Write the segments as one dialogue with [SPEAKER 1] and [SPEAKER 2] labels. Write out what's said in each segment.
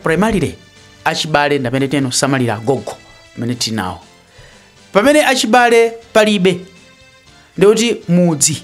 [SPEAKER 1] primarily achibale ndamene amasamalira agogo amene tili nawo pamene achibale palibe ndikuti mudzi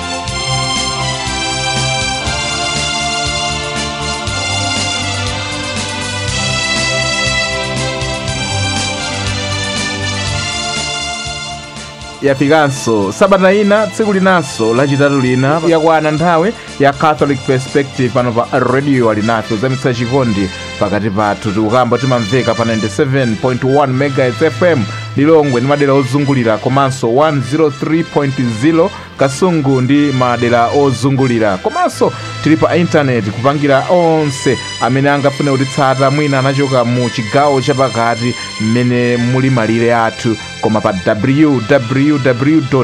[SPEAKER 2] yafikanso sabata ina tsiku linanso lachitatu lina yakwana nthawi ya catholic perspective pano pa radio alinafe kuzamitsa chikondi pakati pathu tikukamba timamveka pa 97.1 megahertz fm lilongwe ndi madera ozungulira komanso 103.0 kasungu ndi madera ozungulira komanso tili pa intaneti kupangira onse amene angafune kutitsata mwina anachoka mu chigawo chapakati mmene muli malire athu koma pa www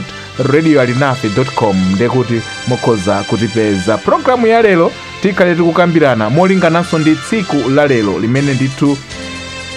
[SPEAKER 2] radio alinafe com ndekuti mukhoza kutipeza programu ya lero tikhale tikukambirana molingananso ndi tsiku la lero limene ndithu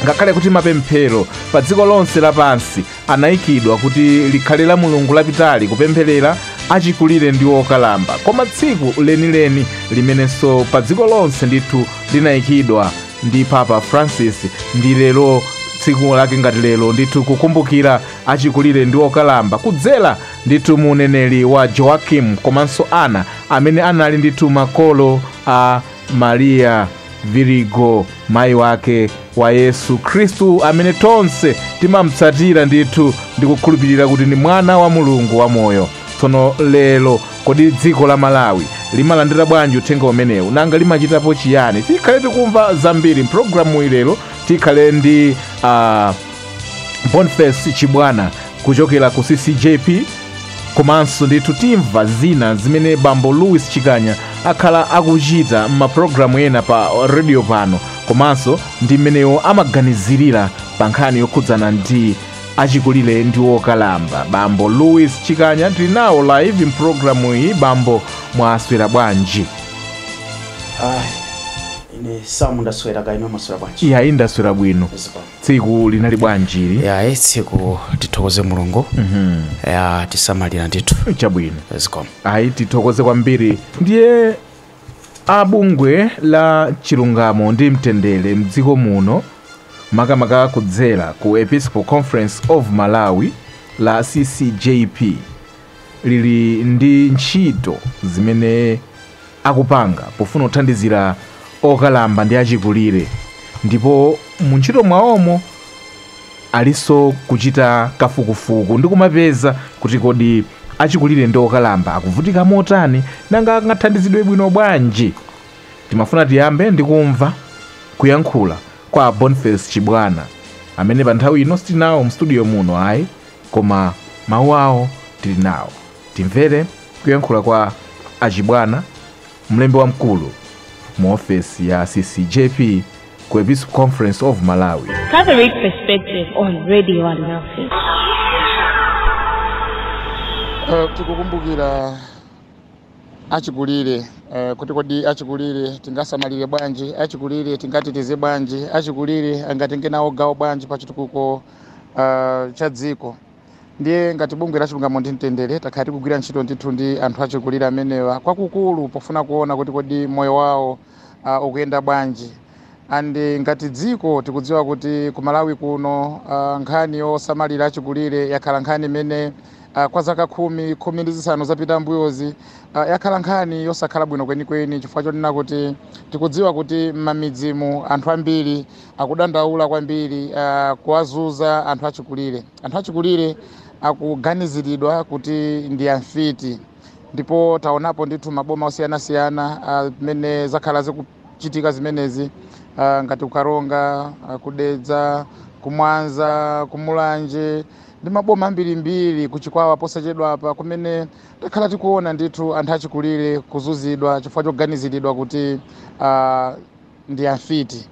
[SPEAKER 2] ngakhale kuti mapemphero pa dziko lonse lapansi anaikidwa kuti likhale lamulungu lapitali kupempherera achikulire ndi okalamba koma tsiku lenileni limenenso pa dziko lonse ndithu linaikidwa ndi papa francis ndi lero tsiku lake ngati lero ndithu kukumbukira achikulire ndi okalamba kudzera ndithu mu uneneri wa joakim komanso anna amene anali ndithu makolo a Mariya Virigo, mayi wake wa Yesu Khristu, amene tonse timamtsatira ndithu ndikukhulupirira kuti ndi mwana wa Mulungu wamoyo. Tsono lero, kodi dziko la Malawi limalandira bwanji uthenga umenewu? Nanga limachitapo chiyani? Tikhale tikumva zambiri mpulogalamuyi lero. Tikhale ndi ah, boniface chibwana kuchokera ku ccjp komanso ndithu timva zina zimene bambo louis chikanya akhala akuchita m'mapulogalamu ena pa redio pano komanso ndi mmene iwo amaganizirira pa nkhani yokhudzana ndi achikulire ndi okalamba bambo louis chikanya tili nawo live mpulogalamu iyi bambo mwaswera bwanji Ayi,
[SPEAKER 1] ine Sam ndaswera kaya inu mwaswera bwanji iyayi ndaswera bwino
[SPEAKER 2] Zikomo. tsiku linali bwanji ili ya eh,
[SPEAKER 1] tsiku tithokoze mulungu watisamalira ndithu chabwino zikomo
[SPEAKER 2] ayi tithokoze kwambiri ndiye a bungwe la chilungamo ndi mtendere mdziko muno makamaka kudzera ku episcopal conference of malawi la ccjp lili ndi ntchito zimene akupanga pofuna kuthandizira okalamba ndi achikulire ndipo mu ntchito mwawomo alinso kuchita kafukufuku ndi kumapeza kuti kodi achikulire ndi okalamba akuvutika motani nanga angathandizidwe bwino bwanji timafuna tiyambe ndi kumva kuyankhula kwa boniface chibwana amene pa nthawi ino sitinawo mstudio muno ayi koma mawu awo tili nawo. Timvere kuyankhula kwa a Chibwana, mlembi wamkulu mu ofesi ya CCJP ku Episcopal Conference of Malawi. Catholic Perspective
[SPEAKER 3] on Radio Alinafe.
[SPEAKER 4] Eh, tikukumbukira achikulire eh, kuti kodi achikulire tingasamalire bwanji achikulire tingateteze bwanji achikulire angatenge nawo gawo bwanji pa chitukuko uh, cha dziko ndiye ngati bungwe la chilungamo ndi mtendere takhala tikugwira ntchito ndithu ndi anthu achikulire amenewa kwakukulu pofuna kuona kuti kodi moyo wawo uh, ukuyenda bwanji and ngati dziko tikudziwa kuti ku malawi kuno uh, nkhani yosamalira achikulire yakhala nkhani imene uh, kwa zaka khumi khumi ndi zisanu zapita mbuyozi uh, yakhala nkhani yosakhala bwino kwenikweni chifukwa chonena kuti tikudziwa kuti m'mamidzimu anthu ambiri akudandaula kwambiri uh, kuwazunza anthu achikulire anthu achikulire akuganiziridwa kuti ndi amfiti ndipo taonapo ndithu maboma osiyanasiyana amene uh, zakhala zikuchitika zimenezi uh, ngati kukaronga uh, kudedza kumwanza kumulanje ndi maboma ambirimbiri kuchikwawa posachedwa apa kumene takhala tikuona ndithu anthu achikulire kuzunzidwa chifukwa choganiziridwa kuti uh, ndi amfiti.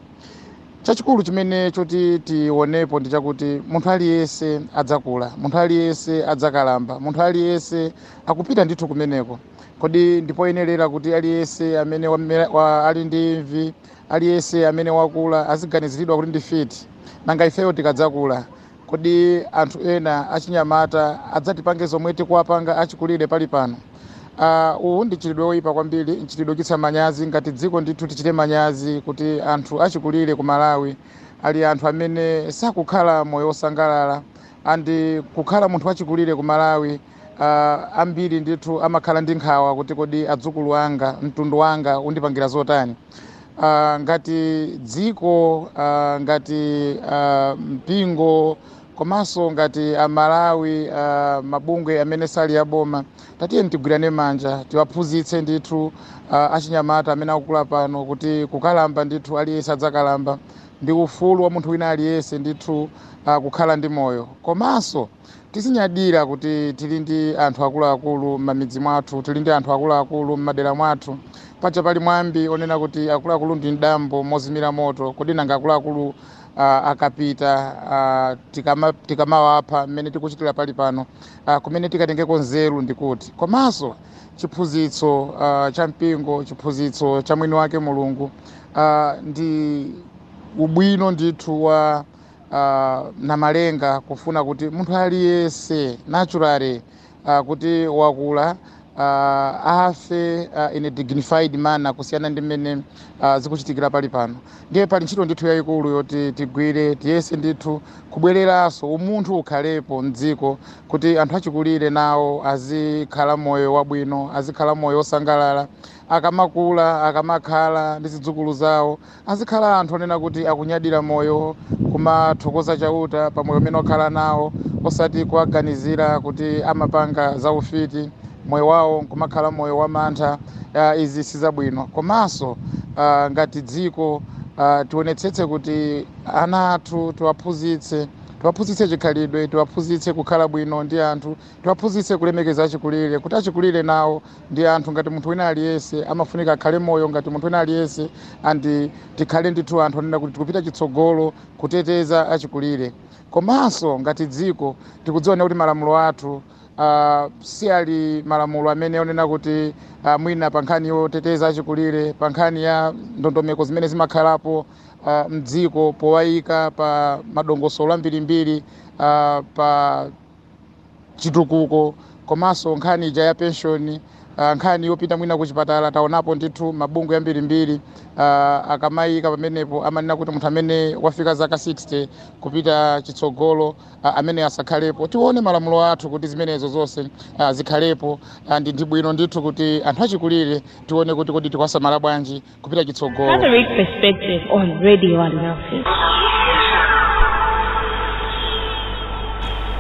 [SPEAKER 4] Chachikulu chimene choti tionepo ndi chakuti munthu aliyense adzakula, munthu aliyense adzakalamba, munthu aliyense akupita ndithu kumeneko. Kodi ndipoyenerera kuti aliyense amene wamera, wa, ali ndi imvi, aliyense amene wakula aziganiziridwa kuti ndi mfiti? Nanga ifeyo tikadzakula Kodi anthu ena achinyamata adzatipange zomwe tikuwapanga achikulire pali pano? Aaah uwu ndi mchitidwe oyipa kwambiri, mchitidwe ochititsa manyazi, ngati dziko ndithu tichite manyazi kuti anthu achikulire ku Malawi ali anthu amene sakukhala moyo osangalala and kukhala munthu wachikulire ku Malawi aaah ambiri ndithu amakhala ndi nkhawa kuti kodi adzukulu anga, mtundu wanga undipangira zotani? uh, ngati dziko uh, ngati uh, mpingo komanso ngati amalawi uh, mabungwe amene sali aboma tatiyeni tigwirane manja tiwaphunzitse ndithu uh, achinyamata amene akukula pano kuti kukalamba ndithu aliyense adzakalamba ndi ufulu wa munthu wina aliyense ndithu uh, kukhala ndi moyo komanso Tizinyadira kuti tili ndi anthu akuluakulu m'mamidzi mwathu, tili ndi anthu akuluakulu m'madera mwathu. Paja pali mwambi onena kuti akuluakulu ndi mdambo mozimira moto, kodi nanga akuluakulu uh, akapita uh, tikama, tikamawapha mmene tikuchitira pali pano uh, kumene tikatengeko nzeru ndi kuti? Komanso chiphunzitso uh, cha mpingo, chiphunzitso cha mwini wake Mulungu uh, ndi ubwino ndithu wa uh, namalenga kufuna kuti munthu aliyense naturally uh, kuti wakula uh, afe uh, in a dignified manner kusiyana ndi mmene uh, zikuchitikira pali pano ndiye pali ntchito ndithu yayikulu yoti tigwire tiyese ndithu kubwereranso umunthu ukhalepo mdziko kuti anthu achikulire nawo azikhala moyo wabwino azikhala moyo wosangalala akamakula akamakhala ndi zidzukulu zawo Azikhala anthu onena kuti akunyadira moyo, kumathokoza Chauta pa moyo umene wakhala nawo, osati kuwaganizira kuti amapanga zaufiti, moyo wawo nkumakhala moyo wamantha. Izi si zabwino. Komanso ngati dziko, tionetsetse kuti ana athu tiwaphunzitse, tiwaphunzitse chikhalidwe, tiwaphunzitse kukhala bwino ndi anthu, Tiwaphunzitse kulemekeza achikulire, kuti achikulire nawo ndi anthu ngati munthu wina aliyense, amafunika akhale moyo ngati munthu wina aliyense and tikhale ndithu anthu onena kuti tikupita chitsogolo kuteteza achikulire. Komanso ngati dziko tikudziwa ndithu kuti malamulo athu Uh, si ali malamulo amene onena kuti uh, mwina pa nkhani yoteteza achikulire pa nkhani ya ndondomeko zimene zimakhalapo uh, mdziko powayika pa madongosolo ambirimbiri uh, pa chitukuko komanso nkhani ija ya penshoni uh, nkhani yopita mwina kuchipatala taonapo ndithu mabungwe ambirimbiri uh, akamayika pamenepo amanena kuti munthu amene wafika zaka 60 kupita chitsogolo uh, amene asakhalepo tione malamulo athu kuti zimenezo zonse uh, zikhalepo uh, ndi ndi bwino ndithu kuti anthu achikulire tione kuti kodi tikuwasamala bwanji kupita
[SPEAKER 3] chitsogolo
[SPEAKER 2] Catholic Perspective on Radio Alinafe.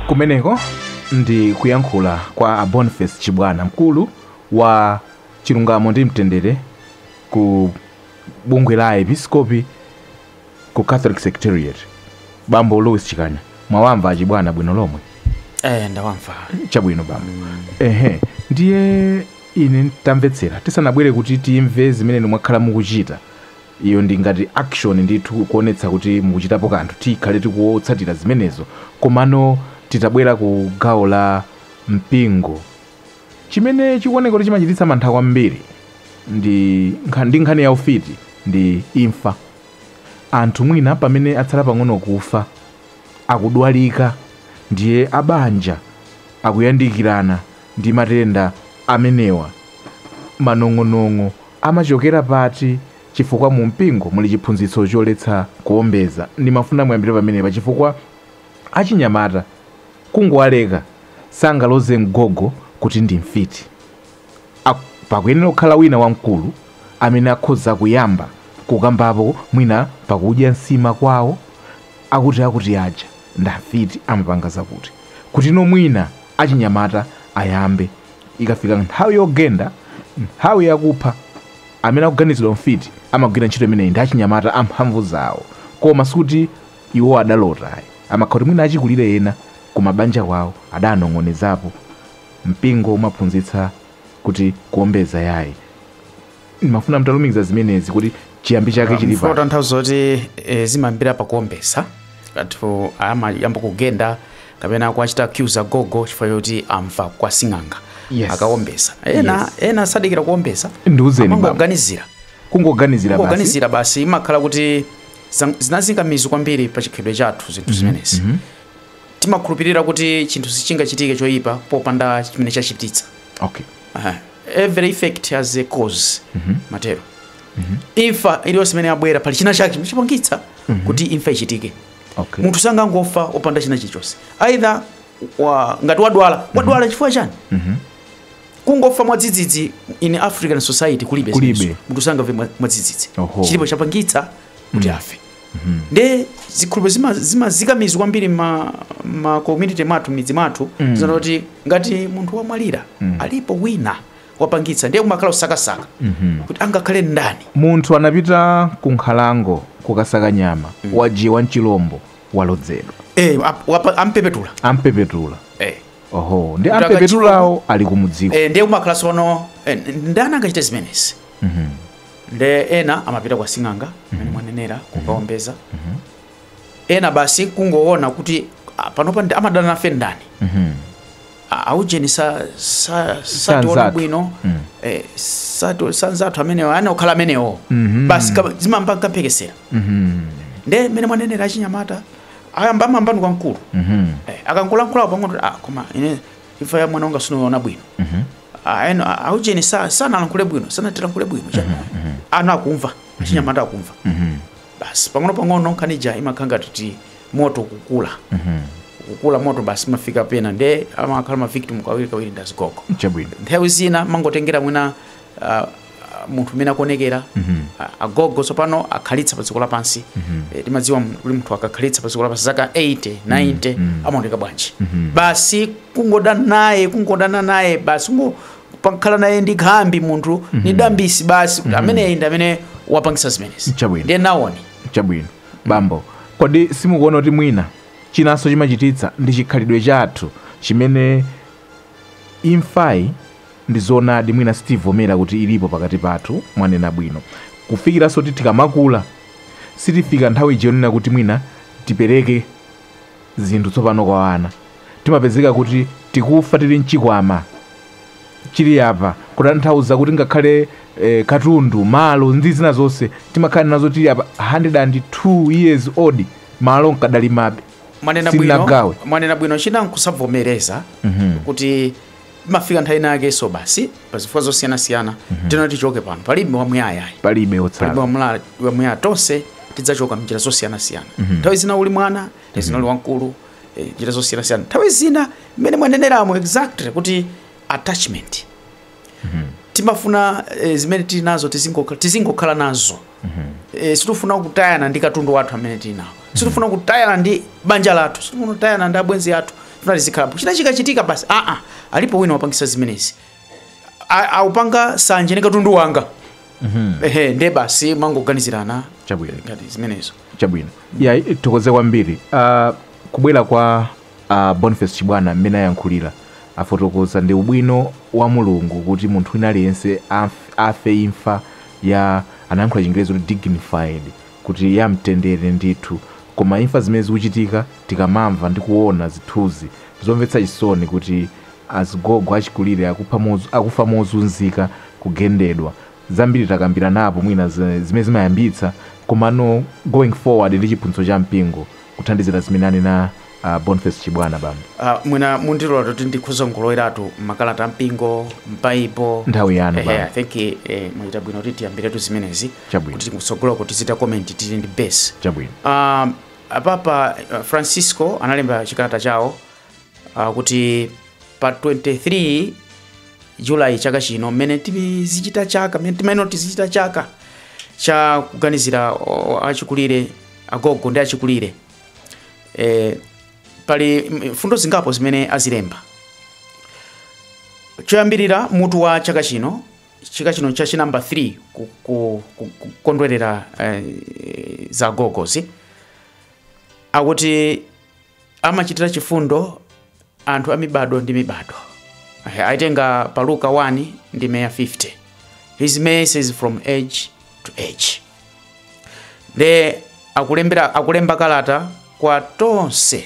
[SPEAKER 2] kumeneko ndi kuyankhula kwa a boniface chibwana mkulu wa chilungamo ndi mtendere ku bungwe la aepiskopi ku catholic secretariat bambo louis chikanya mwawamva a chibwana bwino lomwe eh ndawamva
[SPEAKER 1] chabwino bambo
[SPEAKER 2] ehe ndiye Ine, Tamvetsera, tisanabwere kuti timve zimene inu mwakhala mukuchita, iyo ndi ngati action ndithu, kuonetsa kuti mukuchitapo kanthu, tikhale tikuwotsatira zimenezo, komano titabwera ku gawo la mpingo, chimene chikuoneka kuti chimachititsa mantha kwambiri ndi nkha, ndi nkhani ya ufiti ndi imfa. Anthu mwina pamene atsala pang'ono kufa, akudwalika, ndiye a banja akuyandikirana, Ndi matenda amenewa, manong'onong'o amachokera pati? Chifukwa mu mpingo muli chiphunzitso choletsa kuombeza. Ndimafuna muyambire pamenepa chifukwa achinyamata kungowaleka sangaloze mgogo kuti ndi mfiti. A, pakuyenera kukhala wina wamkulu amene akhoza kuyamba kukambapo mwina pakudya nsima kwawo akuti akuti aja ndi amfiti amapanga zakuti kuti no mwina. achinyamata ayambe. Ikafika nthawi yogenda, nthawi yakupha, amene akuganizidwa mfiti amagwira ntchito imeneyi ndi achinyamata amphamvu zawo. Koma sikuti iwo adalota ayi. Amakhala kuti mwina achikulire ena kumabanja kwawo adanong'onezapo. Mpingo umaphunzitsa kuti kuombeza yayi. ndimafuna mtalumikiza zimenezi kuti chiyambi chake chili mfuna pa tanthauzo
[SPEAKER 1] kuti eh, zimayambira pakuombeza anthu amayamba kugenda kapena kuachita accuse agogo chifukwa choti amva kwa sing'anga Yes. akaombeza ena Yes. ena sadikira kuombeza Ndiuzeni, baba.
[SPEAKER 2] amangoganizira kungoganizira
[SPEAKER 1] basi kungoganizira basi imakhala kuti zam- zinazika mizu kwambiri pa chikhalidwe chathu zinthu zimenezi timakhulupirira kuti chinthu sichingachitike choyipa popanda chimene chachititsa okay Aha. every effect has a cause matero imfa iliyonse imene yabwera pali china chake chimene chapangitsa kuti imfa ichitike Okay. munthu sangangofa opanda china chilichonse either wa, ngati wadwala wadwala chifukwa chani kungofa mwadzidzidzi in african society kulibe Kulibe. zimenezo. munthu sangafe mwa- mwadzidzidzi Oho. chilipo chapangitsa kuti afe nde zikhulupiriro zima- zimazika mizu kwambiri ma, ma community mwathu m'midzi mwathu mm. zonena kuti ngati munthu wamwalira mm. alipo wina wapangitsa ndiye kumakhala kusakasaka mm-hmm. kuti angakhale ndani munthu anapita
[SPEAKER 2] ku nkhalango kukasaka nyama wadyiwa n'chilombo walodzedwa eh, ap- wapa- ampepetula ampepetula eh. oho ndi Kutaka ampepetulawo ali kumudziko eh, ndiye kumakhala sono
[SPEAKER 1] eh, ndani angachite zimenezi nde ena amapita kwa sing'anga mmene mhm. mwanenera mhm. kukaombeza mhm. ena basi kungoona kuti panopa amadana nafe ndani aujeni sationa bwino mm. eh, sanzathu amenewo angokhala amenewo mhm. basi zimayamba mphekesera mhm. nde mmene mwanenera achinyamata ayamba amamvano kwa nkulu mhm. eh, akangolankhulapo pang'ono ah, koma ine imfa ya mwana wanga sinaoneke bwino mhm. aeno aujeni sa sanalankhule bwino sanatilankhule bwino cha mhm, mhm. ana akumva achinyamata akumva basi pang'ono pang'ono nkhani ija imakhala ngati kuti moto kukula kukula moto basi mafika pena nde amakhala ma victim kawiri kawiri ndazigogo nthawi zina mangotengera mwina uh, munthu mmene akuonekera mm -hmm. agogo tsopano akhalitsa pa dziko lapansi mm -hmm. e, timadziwa kuti munthu akakhalitsa pa dziko lapansi zaka 80 90 mm -hmm. amaoneka bwanji mm -hmm. basi kungodana naye kungodana naye basi kungo pakhala naye ndi khambi munthu mm -hmm. ni mhm. dambisi basi mm -hmm. ameneyi ndi amene wapangitsa zimenezi ndiye nawoni
[SPEAKER 2] chabwino bambo mm -hmm. kodi simukuona kuti mwina chinanso chimachititsa ndi chikhalidwe chathu chimene imfayi Ndizoonadi mwina sitivomera kuti ilipo pakati pathu mwanena bwino kufikiranso kuti tikamakula sitifika nthawi ija yonena kuti mwina tipereke zinthu tsopano kwa ana timapezeka kuti tikufa tili nchikwama chili apa kutanthauza kuti ngakhale eh, katundu malo ndi zina zonse timakhala nazo tili apa 102 years old malo nkadalimabe mwanena bwino Sinagawe.
[SPEAKER 1] mwanena bwino china nkusavomereza kuti imafika nthawi inayakenso basi pazifukwa zosiyanasiyana tinoti tichoke pano palibe wamuyaya ayi. palibe palibe wotsala wamula- wamuyaya tonse tidzachoka mnjira zosiyanasiyana nthawi zina uli mwana nthawi zina uli wamkulu eh, njira zosiyanasiyana nthawi zina mmene mwaneneramo exactly kuti attachment timafuna eh, zimene tili nazo tizingoka- tizingokhala nazo e, sitifuna kutayana ndi katundu wathu amene tili nawo sitifuna kutayana ndi banja lathu sitifuna kutayana ndi abwenzi athu tufuna tizikhalapo china chikachitika basi aa alipo wina wapangitsa zimenezi A- akupanga sanje ndi katundu wanga ehe nde basi kumangoganizirana Chabwino. ngati zimenezo chabwino ya
[SPEAKER 2] tithokoze kwambiri uh, kubwera kwa A Boniface Chibwana mmene ayankhulira afotokoza ndi ubwino wa Mulungu kuti munthu wina aliyense amf, afe imfa ya anayankhula chingerezi kuti dignified kuti ya mtendere ndithu koma imfa zimene zikuchitika tikamamva ndi kuona zithunzi zomvetsa chisoni kuti azigogo achikulire akupha moz, akufa mozunzika kugendedwa zambiri takambiranapo mwina za zimene zimayambitsa komano going forward ndi chiphunzitso cha mpingo kuthandizira zimene anena a Boniface Chibwana. Bambo. A, mwina mundilola
[SPEAKER 1] kuti ndikhoza kungoloweratu makalata ampingo m'baibulo Nthawi yanu, Ehe, bambo. i
[SPEAKER 2] think eh,
[SPEAKER 1] mwachita bwino kuti tiyambiretu zimenezi Chabwino. kuti kutsogoloku tizichita comment tili ndi base Chabwino. um,
[SPEAKER 2] a
[SPEAKER 1] Papa uh, Francisco analemba chikalata chawo uh, kuti pa 23 julayi chaka chino mmene tizichita chaka mmene timayenera tizichita chaka cha kuganizira o- achikulire agogo ndi achikulire e, pali mm, mfundo zingapo zimene azilemba choyambirira mutu wa chaka chino chaka chino cha chinamba 3 ku- ku- ku- kukondwerera eh, za agogozi akuti amachitira chifundo anthu a mibado ndi mibado Aya, aitenga pa luka 1 ndime ya 50 his mercy is from age to age nde akulembera akulemba kalata kwa tonse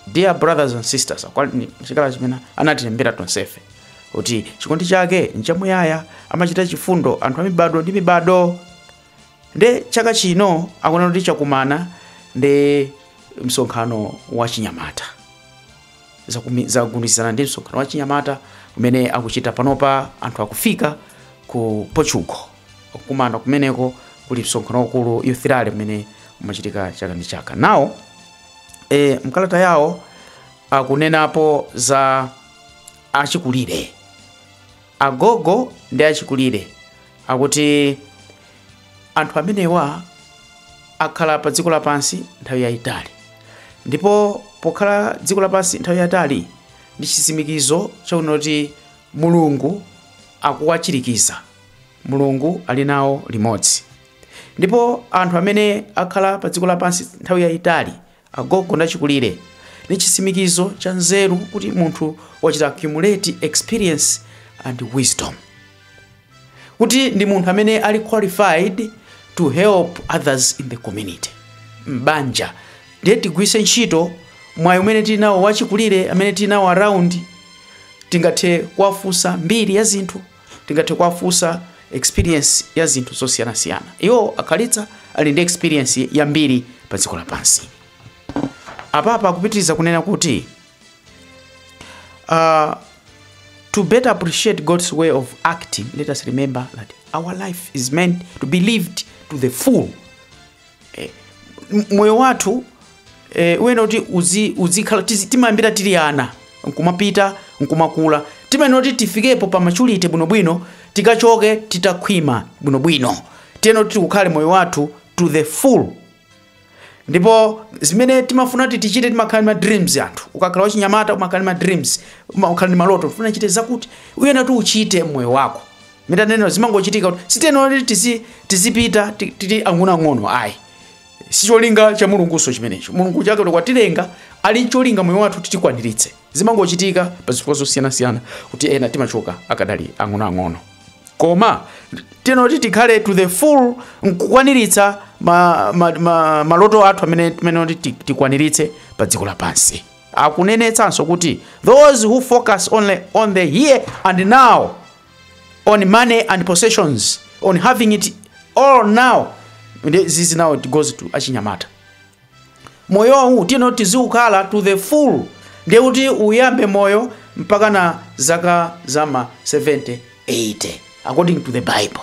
[SPEAKER 1] dear brothers and sisters akwa- ni- chikalata chimene anatilembera tonsefe kuti chikondi chake nchamuyaya amachitira chifundo anthu a mibado ndi mibado Nde chaka chino akunena kuti chakumana ndi msonkhano wa chinyamata zagundizana ndi msonkhano wa chinyamata umene akuchita panopa anthu akufika ku Portugal akukumana kumeneko kuli msonkhano wakulu youth rally umene umachitika chaka ndi chaka nawo e, mkalata yawo akunenapo za achikulire Agogo ndi achikulire akuti anthu amenewa akhala pa dziko lapansi nthawi yayitali ndipo pokhala dziko lapansi nthawi yatali ndi chitsimikizo chonena kuti Mulungu akuwachirikiza. Mulungu ali nawo limodzi. Ndipo anthu amene akhala pa dziko lapansi nthawi yayitali Agogo ndi achikulire ni chitsimikizo cha nzeru kuti munthu wachita accumulate experience and wisdom, kuti ndi munthu amene ali qualified to help others in the community, m'banja. Ndiye tigwitse ntchito mwayi umene tili nawo wa achikulire amene tili nawo around, tingathe kuwafunsa mbiri ya zinthu. Tingathe kuwafunsa experience ya zinthu zosiyanasiyana. Iwo akhalitsa ali ndi experience yambiri pa dziko lapansi. Apapa akupitiriza kunena kuti uh, to better appreciate God's way of acting, let us remember that our life is meant to be lived to the full eh, moyo wathu eh, uyenera kuti uzi- uzikhala tizi- timayambira tili ana nkumapita nkumakula timayenera kuti tifikepo pa maturity bwinobwino tikachoke titakhwima bwinobwino tiyenera kuti tiukhale moyo wathu to the full ndipo zimene timafuna kuti tichite timakhala ndi ma dreams anthu ukakhala wachinyamata umakhala ndi ma dreams umakhala ndi maloto ufuna uchite zakuti uyenera kuti uchite mmoyo wako mwina zimangochitika kuti sitiyenera kuti tizi- tizipita ti- tili ang'onoang'ono ayi sicholinga cha mulungunso chimenecho mulungu chake kuti watilenga ali cholinga moyo wathu kuti tikwaniritse zimangochitika pa zifukwa zosiyanasiyana kuti ena timachoka akadali ang'onoang'ono koma tiyenera kuti tikhale to the full nkukwaniritsa ma, ma, ma, maloto athu amene tiyenera kuti ti- tikwaniritse pa dziko lapansi akunenetsanso kuti those who focus only on the here and now on money and possessions on having it all now this is now it goes to achinyamata moyo uwu tiyeni tiziukhala to the full ndiye kuti uyambe moyo mpaka na zaka za ma 70 80 according to the bible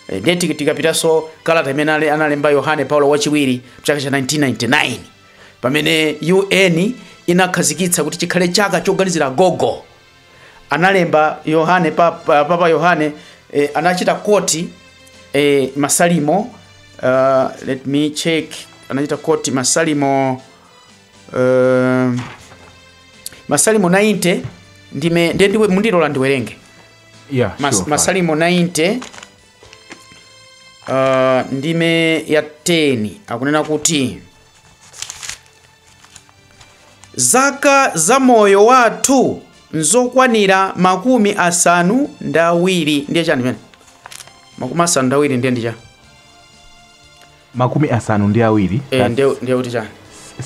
[SPEAKER 1] Eh, ndiye tiki- tikapitanso kalata imene ale- analemba yohane paulo wachiwiri mchaka cha 1999 pamene un inakhazikitsa kuti chikhale chaka choganizira gogo analemba yohane papa, papa yohane eh, anachita koti eh, masalimo uh, let me check anachita koti masalimo uh, masalimo 90 ndime ndiye ndiye mundilole ndiwerenge
[SPEAKER 2] Yeah, Mas, sure,
[SPEAKER 1] fine. masalimo 90 uh, ndime ya 10 akunena kuti Zaka za moyo wathu nzokwanira makumi asanu ndi awiri ndiye chani chimene makumi asanu ndi awiri ndiye ndi chani makumi asanu
[SPEAKER 2] ndi awiri Eh, that's ndiye ndiye kuti chani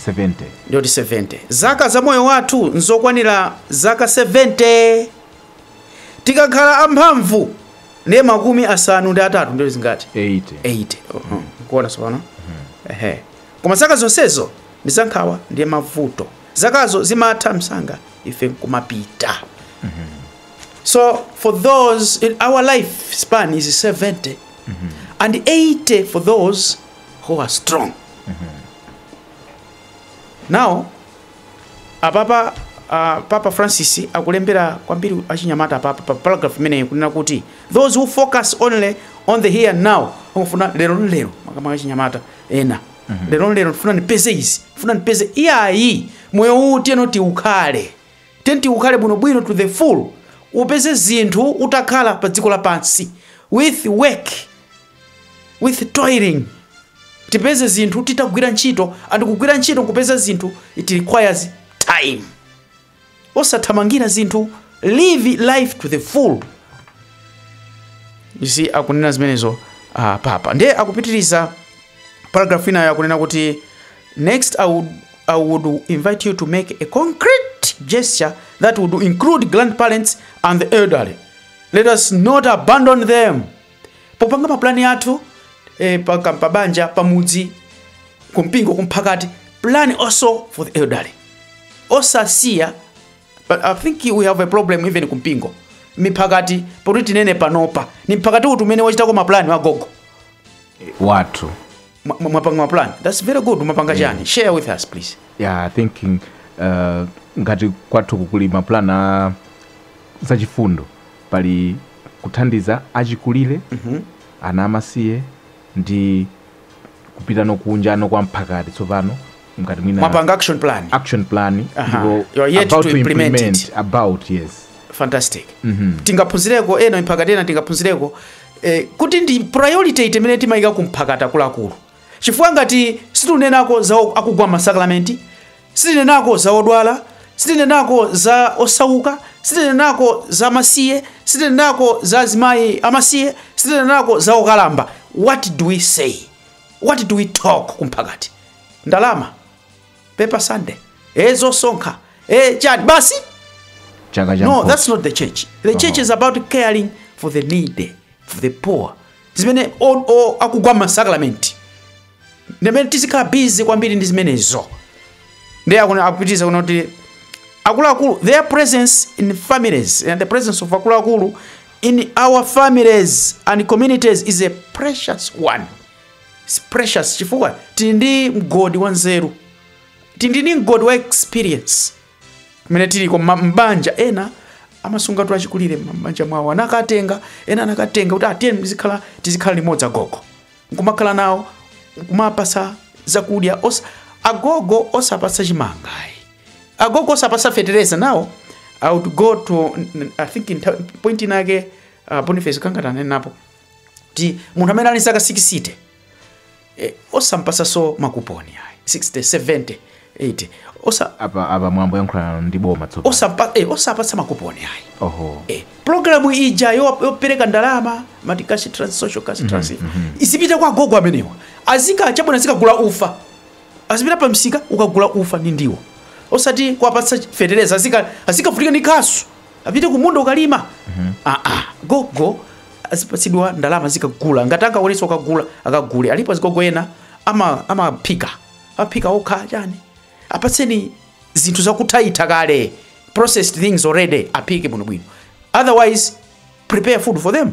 [SPEAKER 2] 70 ndiye kuti
[SPEAKER 1] 70 zaka za moyo wathu nzokwanira zaka 70 tikakhala amphamvu ndiye makumi asanu ndi atatu ndiye zingati 80 80 mukuona tsopano ehe Koma zaka zonsezo ndi za nkhawa ndi mavuto. Zakazo zimatha msanga ife nkumapita. Mm -hmm. So for those our life span is 70 mm -hmm. and 80 for those who are strong. Mm -hmm. Now apapa uh, Papa Francis akulembera kwambiri achinyamata pa pa pa paragraph imeneyi kunena kuti those who focus only on the here and now amafuna lero lero makamaka achinyamata ena lero lero ndifuna ndipeze izi ndifuna ndipeze iyayi moyo uwu tiyeni tiukhale tiyeni tiukhale bwinobwino to the full upeze zinthu utakhala pa dziko lapansi with work with toiling tipeze zinthu titagwira ntchito and kugwira ntchito nkupeza zinthu it requires time osathamangira zinthu live life to the full you see akunena zimenezo uh, papa ndiye akupitiriza paragraph ina akunena kuti next I would, i would invite you to make a concrete gesture that would include grandparents and the elderly let us not abandon them popanga mapulani athu eh, pa, ka- pa banja pa mudzi kumpingo kumphakati plan also for the elderly osasiya but i think we have a problem even kumpingo miphakati pakuti tinene panopa ni mphakati uti umene wachitako mapulani wagogo
[SPEAKER 2] wathu Mwa- mwa-
[SPEAKER 1] mwapanga maplan thats very good mwapanga chani share with us please yeah thinking
[SPEAKER 2] uh, ngati kwathu kukuli maplan a zachifundo pali kuthandiza achikulire ana amasiye ndi kupitanso kunja kwa mphakati tsopano ngati mwina mwapanga action
[SPEAKER 1] plan action plan Aha. ndipo You are yet about to to
[SPEAKER 2] implement
[SPEAKER 1] implement it. about yes
[SPEAKER 2] fantastic
[SPEAKER 1] tingaphunzireko ena mphakati ena tingaphunzireko e, kuti ndi priority iti imene timayika ku mphakati akuluakulu chifukwa ngati sitinenako za o- akugwa masakramenti sitinenako za odwala sitinenako za osauka sitinenako za masiye sitinenako za azimayi amasiye sitinenako za okalamba what do we say what do we talk ku mphakati ndalama paper sunday e zosonkha e chani basi chaka cha no mkhosi. that's not the church the church is about caring for the needy for the poor zimene o- o- akugwa masakramenti ndimene tizikhala busy kwambiri ndi zimenezo ndiye akuna- akupitiriza kunena kuti akuluakulu their presence in families and the presence of akuluakulu in our families and communities is a precious one It's precious chifukwa tili ndi mgodi wa nzeru tili ndi mgodi wa experience kumene tiliko ma- m'banja ena amasungatu achikulire m'banja mwawo anakatenga ena anakatenga kuti tiyeni tizikhala tizikhala limodzi agogo nkumakhala nawo nkumapasa zakudya osa, agogo osapasa chimanga ayi. agogo osapasa fetereza nawo i would go to n- n- i think in ta- point inake uh, boniface kangatanene napo kuti munthu amene ali zaka 60 eh, osampasaso makuponi ayi 60 70 80 osa apa apa
[SPEAKER 2] mwambo yankhulana ndi boma tsopano osapa eh, osapatsa
[SPEAKER 1] makuponi ayi oho eh, programu ija yo- yopereka ndalama mati cash trans social cash trans izipita kwa gogo amenewa azika achabwino azikagula ufa azipita pa msika kukagula ufa ndi ndiwo osati kuwapatsa fetereza azika azikavutika ndi kasu apite kumunda ukalima aa gogo azipatsidwa ndalama zikagula ngati angakwanitse ukagula akagule alipo azigogo ena ama- amaphika amaphika okha chani apatseni zinthu zakuthaitha kale, processed things already aphike bwinobwino otherwise prepare food for them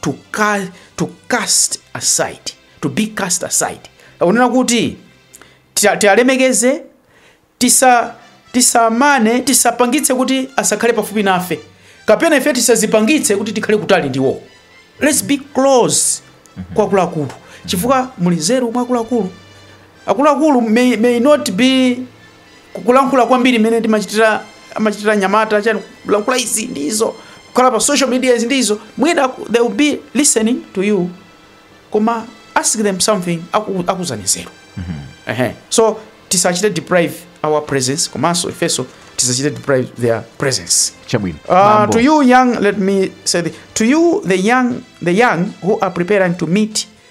[SPEAKER 1] to, ca to cast aside to be cast aside akunena kuti tia- tialemekeze tisa tisamane tisapangitse kuti asakhale pafupi nafe kapena ife tisadzipangitse kuti tikhale kutali ndiwo let's be close kwa akuluakulu chifukwa muli nzeru mwa akuluakulu akuluakulu may, may not be kukulankhula kwambiri mmene timachitira amachitira anyamata chani kulankhula izi ndi izo kukhala pa social media izi ndi izo mwina aku- they will be listening to you koma ask them something aku- akuuzani nzeru Ehe. so tisachite deprive our presence komanso ifenso tisachite deprive their presence chabwino Uh, Mambo. to you young, let me say, the, to you the young, the young who are preparing to meet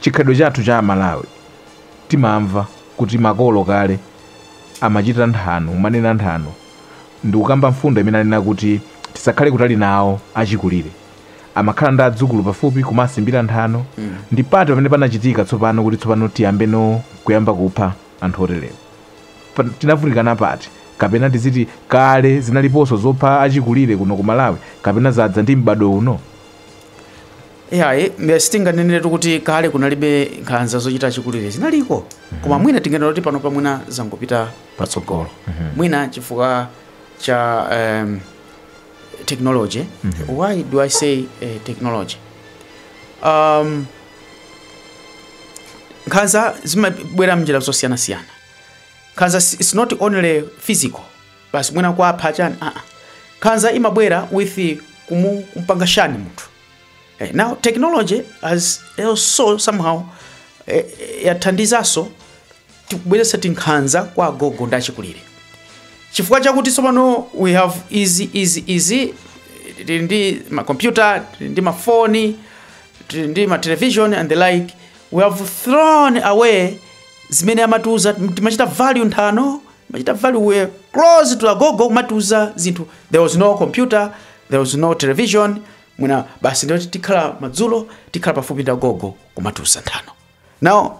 [SPEAKER 2] Chikhalidwe chathu cha a Malawi timamva kuti makolo kale amachita nthano, kumanena nthano ndikukamba mfundo imene anena kuti tisakhale kutali nawo achikulire. Amakhala ndi adzukulu pafupi kumawasimbira nthano ndi pati pamene panachitika tsopano kuti tsopano tiyambeno kuyamba kupha anthu oterewa. Pa, tinavutikana pati? Kapena tiziti kale zinaliponso zopha achikulire kuno ku Malawi kapena zadza ndi m'bado uno? Iyayi,
[SPEAKER 1] mbe- sitinganeneretu kuti kale kunalibe nkhanza zochita achikulire zinaliko koma mwina tinganena kuti pano pamwina zangopita patsogolo mwina chifukwa cha um, technology why do i say uh, technology um, nkhanza zimabwera mnjira zosiyanasiyana nkhanza si- it's not only physical basi mwina kwapha chani aa nkhanza imabwera with kumu- kumpanga shun munthu Eh, now technology has also somehow eh, eh, yathandizanso kubweretsa tinkhanza kwa agogo ndi achikulire chifukwa chakuti tsopano we have izi izi izi eh, tili ndi makompyuta tili ndi mafoni tili ndi matelevision and the like we have thrown away zimene amatiuza timachita value nthano machita value were close to agogo kumatiuza zinthu there was no computer there was no television mwina basi ndiye kuti tikhala madzulo tikhala pafupi ndi agogo kumatiuza nthano now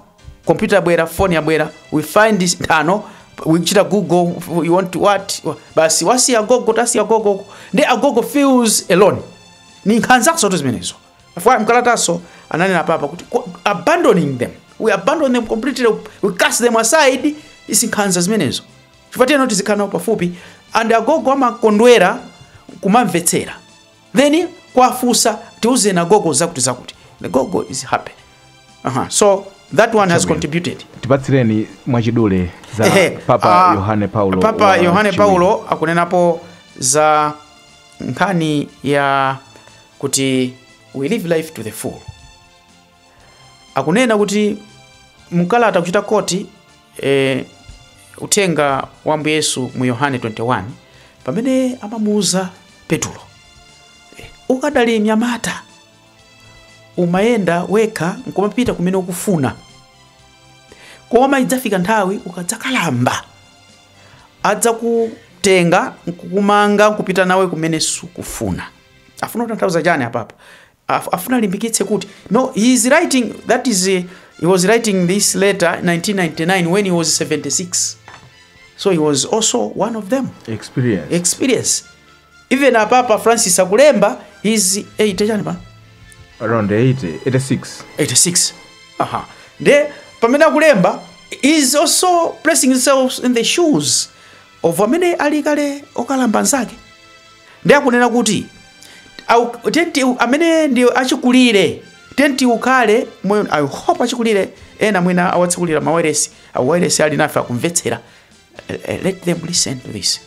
[SPEAKER 1] computer yabwera phone yabwera we find this nthano uchita google you want to what basi wasiya agogo tasiya agogo ndi agogo feels alone ni nkhanza kumenesotu zimenezo Chifukwa mkalataso ananena papa kuti "Ko- abandoning them we abandon them completely we cast them aside ndi nkhanza zimenezo chifukwa tiyeno tizikhala nawo pafupi and agogo amakondwera kumamvetsera then kuwafunsa tiuzeni agogo zakuti zakuti the gogo is happy uh-huh. So that one has contributed
[SPEAKER 2] tipatsireni mwachidule za Ehe, papa ah, yohane paulo papa wa yohane chiwiri. paulo
[SPEAKER 1] akunenapo za nkhani ya kuti we live life to the full akunena kuti mkalata kuchita koti eh, uthenga wa Ambuye Yesu mu yohane 21 pamene amamuuza petulo eh, ukadali mnyamata umayenda wekha nkumapita kumene ukufuna koma idzafika nthawi ukadzakalamba adzakutenga nkukumanga nkupita nawe kumene sukufuna afuna kutanthauza chani apapa Af- afuna alimbikitse kuti no he is writing that is uh, he was writing this letter 1999 when he was 76 so he was also one of them experience experience Even a Papa Francis akulemba he's 80 chani pa? Around 80, 86.
[SPEAKER 2] 86.
[SPEAKER 1] Aha. Nde pamene akulemba is also placing himself in the shoes of amene ali kale okalamba anzake. Nde akunena kuti au- Tate amene ndi achikulire tenti ukale moyo I hope achikulire ena mwina awatsekulira mawailesi a wailesi ali nafe akumvetsera Eh, eh, let them listen to this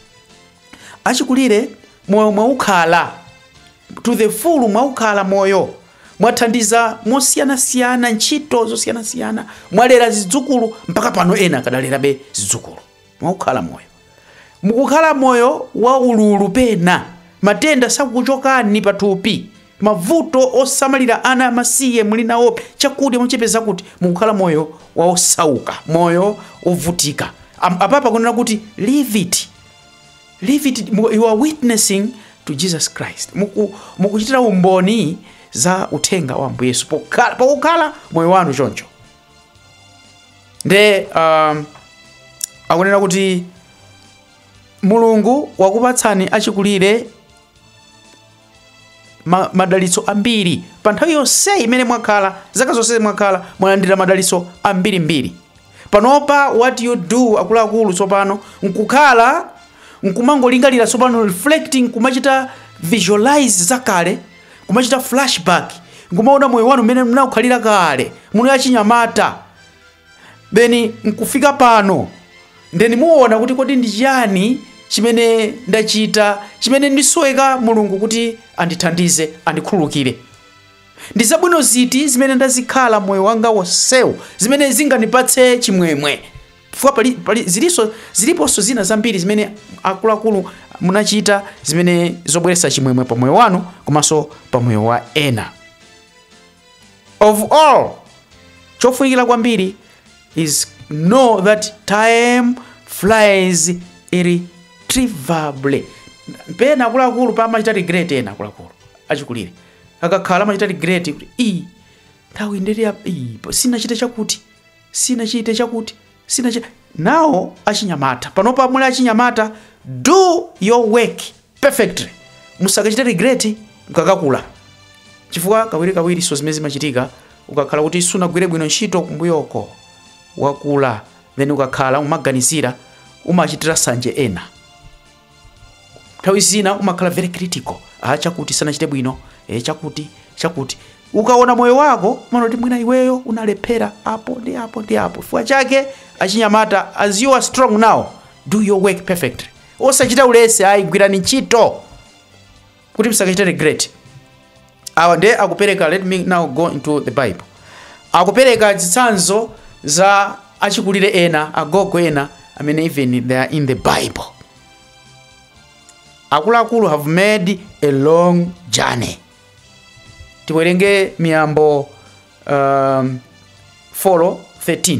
[SPEAKER 1] achikulire moyo mwaukhala to the full mwaukhala moyo mwathandiza mosiyanasiyana ntchito zosiyanasiyana mwalera zidzukulu mpaka pano ena akadalerabe zidzukulu mwaukhala moyo mukukhala moyo wa ululu pena matenda sakuchokani pathupi mavuto osamalira ana amasiye muli nawo chakudya chochepa kuti mukukhala moyo wosauka moyo wovutika Am- apapa akunena kuti live it Live it, you are witnessing to Jesus Christ. Mukuchitira umboni za uthenga wa Ambuye Yesu pokukhala moyo wanu choncho. Nde um, akunena kuti Mulungu wakupatsani achikulire ma, madalitso ambiri pa nthawi yonse imene mwakhala zaka zonse mwakhala mwalandira madalitso ambirimbiri panopa what you do akuluakulu tsopano nkukhala nkumangolingalira tsopano reflecting kumachita visualize zakale kumachita flashback nkumaona moyo wanu mmene munkakhalira kale muli achinyamata then nkufika pano ndeni muona kuti kodi ndi chiyani chimene ndachita chimene ndisoweka mulungu kuti andithandize andikhululukire ndi zabwino ziti zimene ndazikhala moyo wanga wonsewu zimene zingandipatse chimwemwe chifukwa zilinso ziliponso zina zambiri zimene akuluakulu munachita zimene zobweretsa chimwemwe pa moyo wanu komanso pa moyo wa ena of all chofunikira kwambiri is know that time flies irretrievably pena akuluakulu amachita regret ena akuluakulu achikulire akakhala amachita regret kuti i nthawi ndili ya- i, sinachite chakuti sinachite chakuti sinachi nawo achinyamata panopa muli achinyamata do your work perfectly musakachite regret mkakakula chifukwa kawirikawirinso zimene zimachitika ukakhala kuti sunagwire bwino ntchito kumbuyoko wakula then ukakhala umaganizira umachitira sanje ena nthawi zina umakhala very critical ah chakuti sanachite bwino eh chakuti chakuti ukaona moyo wako umaona kuti mwina iweyo unalephera apo ndi apo ndi apo chifukwa chake achinyamata as you are strong now do your work perfectly osachita ulesi ayi gwirani ntchito kuti msakachite regret awa ndiye akupereka let me now go into the bible akupereka zitsanzo za achikulire ena agogo ena amene even they are in the bible akuluakulu have made a long journey tiwerenge miyambo um, 4 13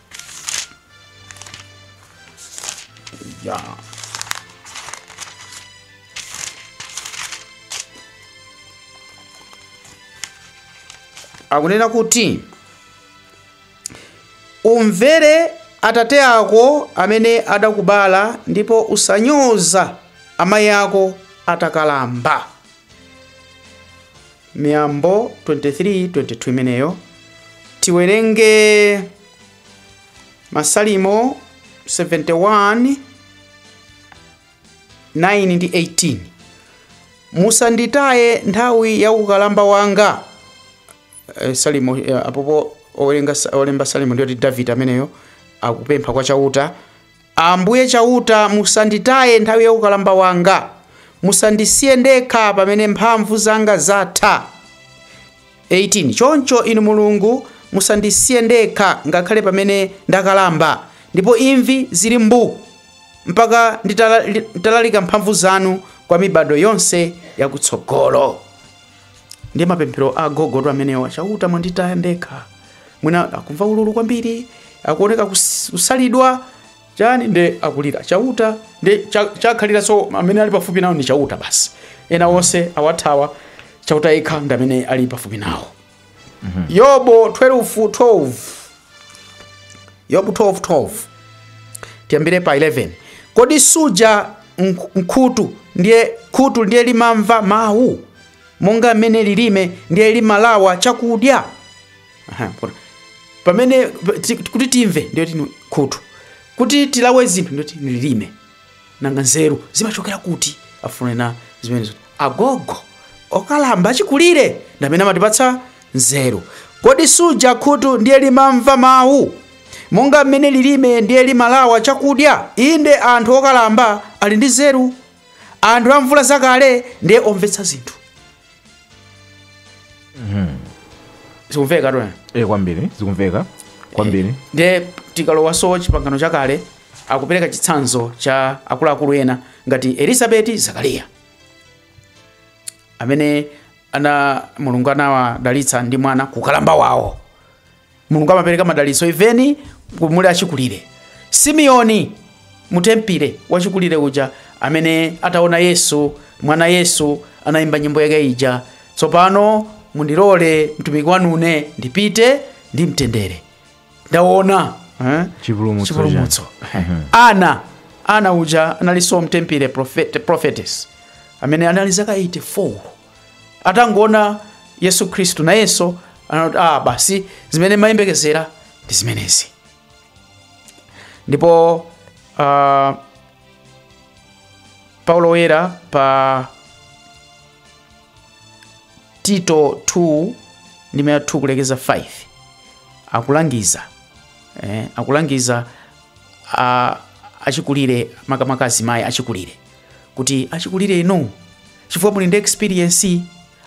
[SPEAKER 1] Yeah. akunena kuti umvere atate ako amene adakubala ndipo usanyoze amayi ako atakalamba Miyambo 23:22 imeneyo. Tiwerenge Masalimo 71 9 ndi 18. Musanditaye nthawi ya ukalamba wanga. Eh, Salimo eh, apopo olemba Salimo ndiyoti David ameneyo akupempha kwa Chauta Ambuye Chauta, musanditaye nthawi ya ukalamba wanga, musandisiye ndekha pamene mphamvu zanga zatha. 18 choncho Inu Mulungu, musandisiye ndekha ngakhale pamene ndakalamba, ndipo imvi zili mbu, mpaka nditalalika mphamvu zanu kwa mibadwo yonse yakutsogolo. ndi mapemphero agogo amenewa chauta mwanditaya ndekha mwina akumva ululu kwambiri akuoneka kus- kusalidwa chani nde akulira chauta ndiye cha- chakhalira so amene ali pafupi nawo ndi chauta basi ena onse awathawa chauta yekha ndi amene ali pafupi nawo Mhm. yobu 12:12 yobu 12:12 tiyambire pa 11 kodi suja mk- mkhutu ndiye khutu ndiye limamva mawu monga mmene lilime ndiye limalawa chakudya Aha, pona. pamene ti- kuti timve ndiye tini khutu kuti tilawe zinthu ndiye tini lilime nanga nzeru zimachokera kuti akufuna anena zimenezo agogo okalamba achikulire ndi amene amatipatsa nzeru kodi suja khutu ndiye limamva mawu monga mmene lilime ndiye limalawa chakudya inde anthu okalamba ali ndi nzeru anthu amvula zakale ndiye omvetsa zinthu zikumveka tu e kwambiri zikumveka
[SPEAKER 2] kwambiri ndiye
[SPEAKER 1] tikalowaso chipangano chakale akupereka chitsanzo cha akuluakulu ena ngati elizabeti zakariya amene ana mulungu anawadalitsa ndi mwana kukalamba wawo mulungu amapereka madalitso even muli achikulire simeoni mutempile wachikulire uja amene ataona yesu mwana yesu anayimba nyimbo yake ija tsopano mundilole mtumiki wanune ndipite ndi mtendere ndaona eh? Chipulumutso chipulumutso ana ana uja analinso mutempile prophet, prophetess amene anali zaka 84 atangoona yesu khristu nayenso anati ah basi zimene ndimayembekezera ndi zimenezi ndipo uh, paulo woyera pa tito 2 ndime ya 2 kulekeza 5 akulangiza eh, akulangiza a- achikulire makamaka azimayi achikulire kuti achikulire inu chifukwa muli ndi experience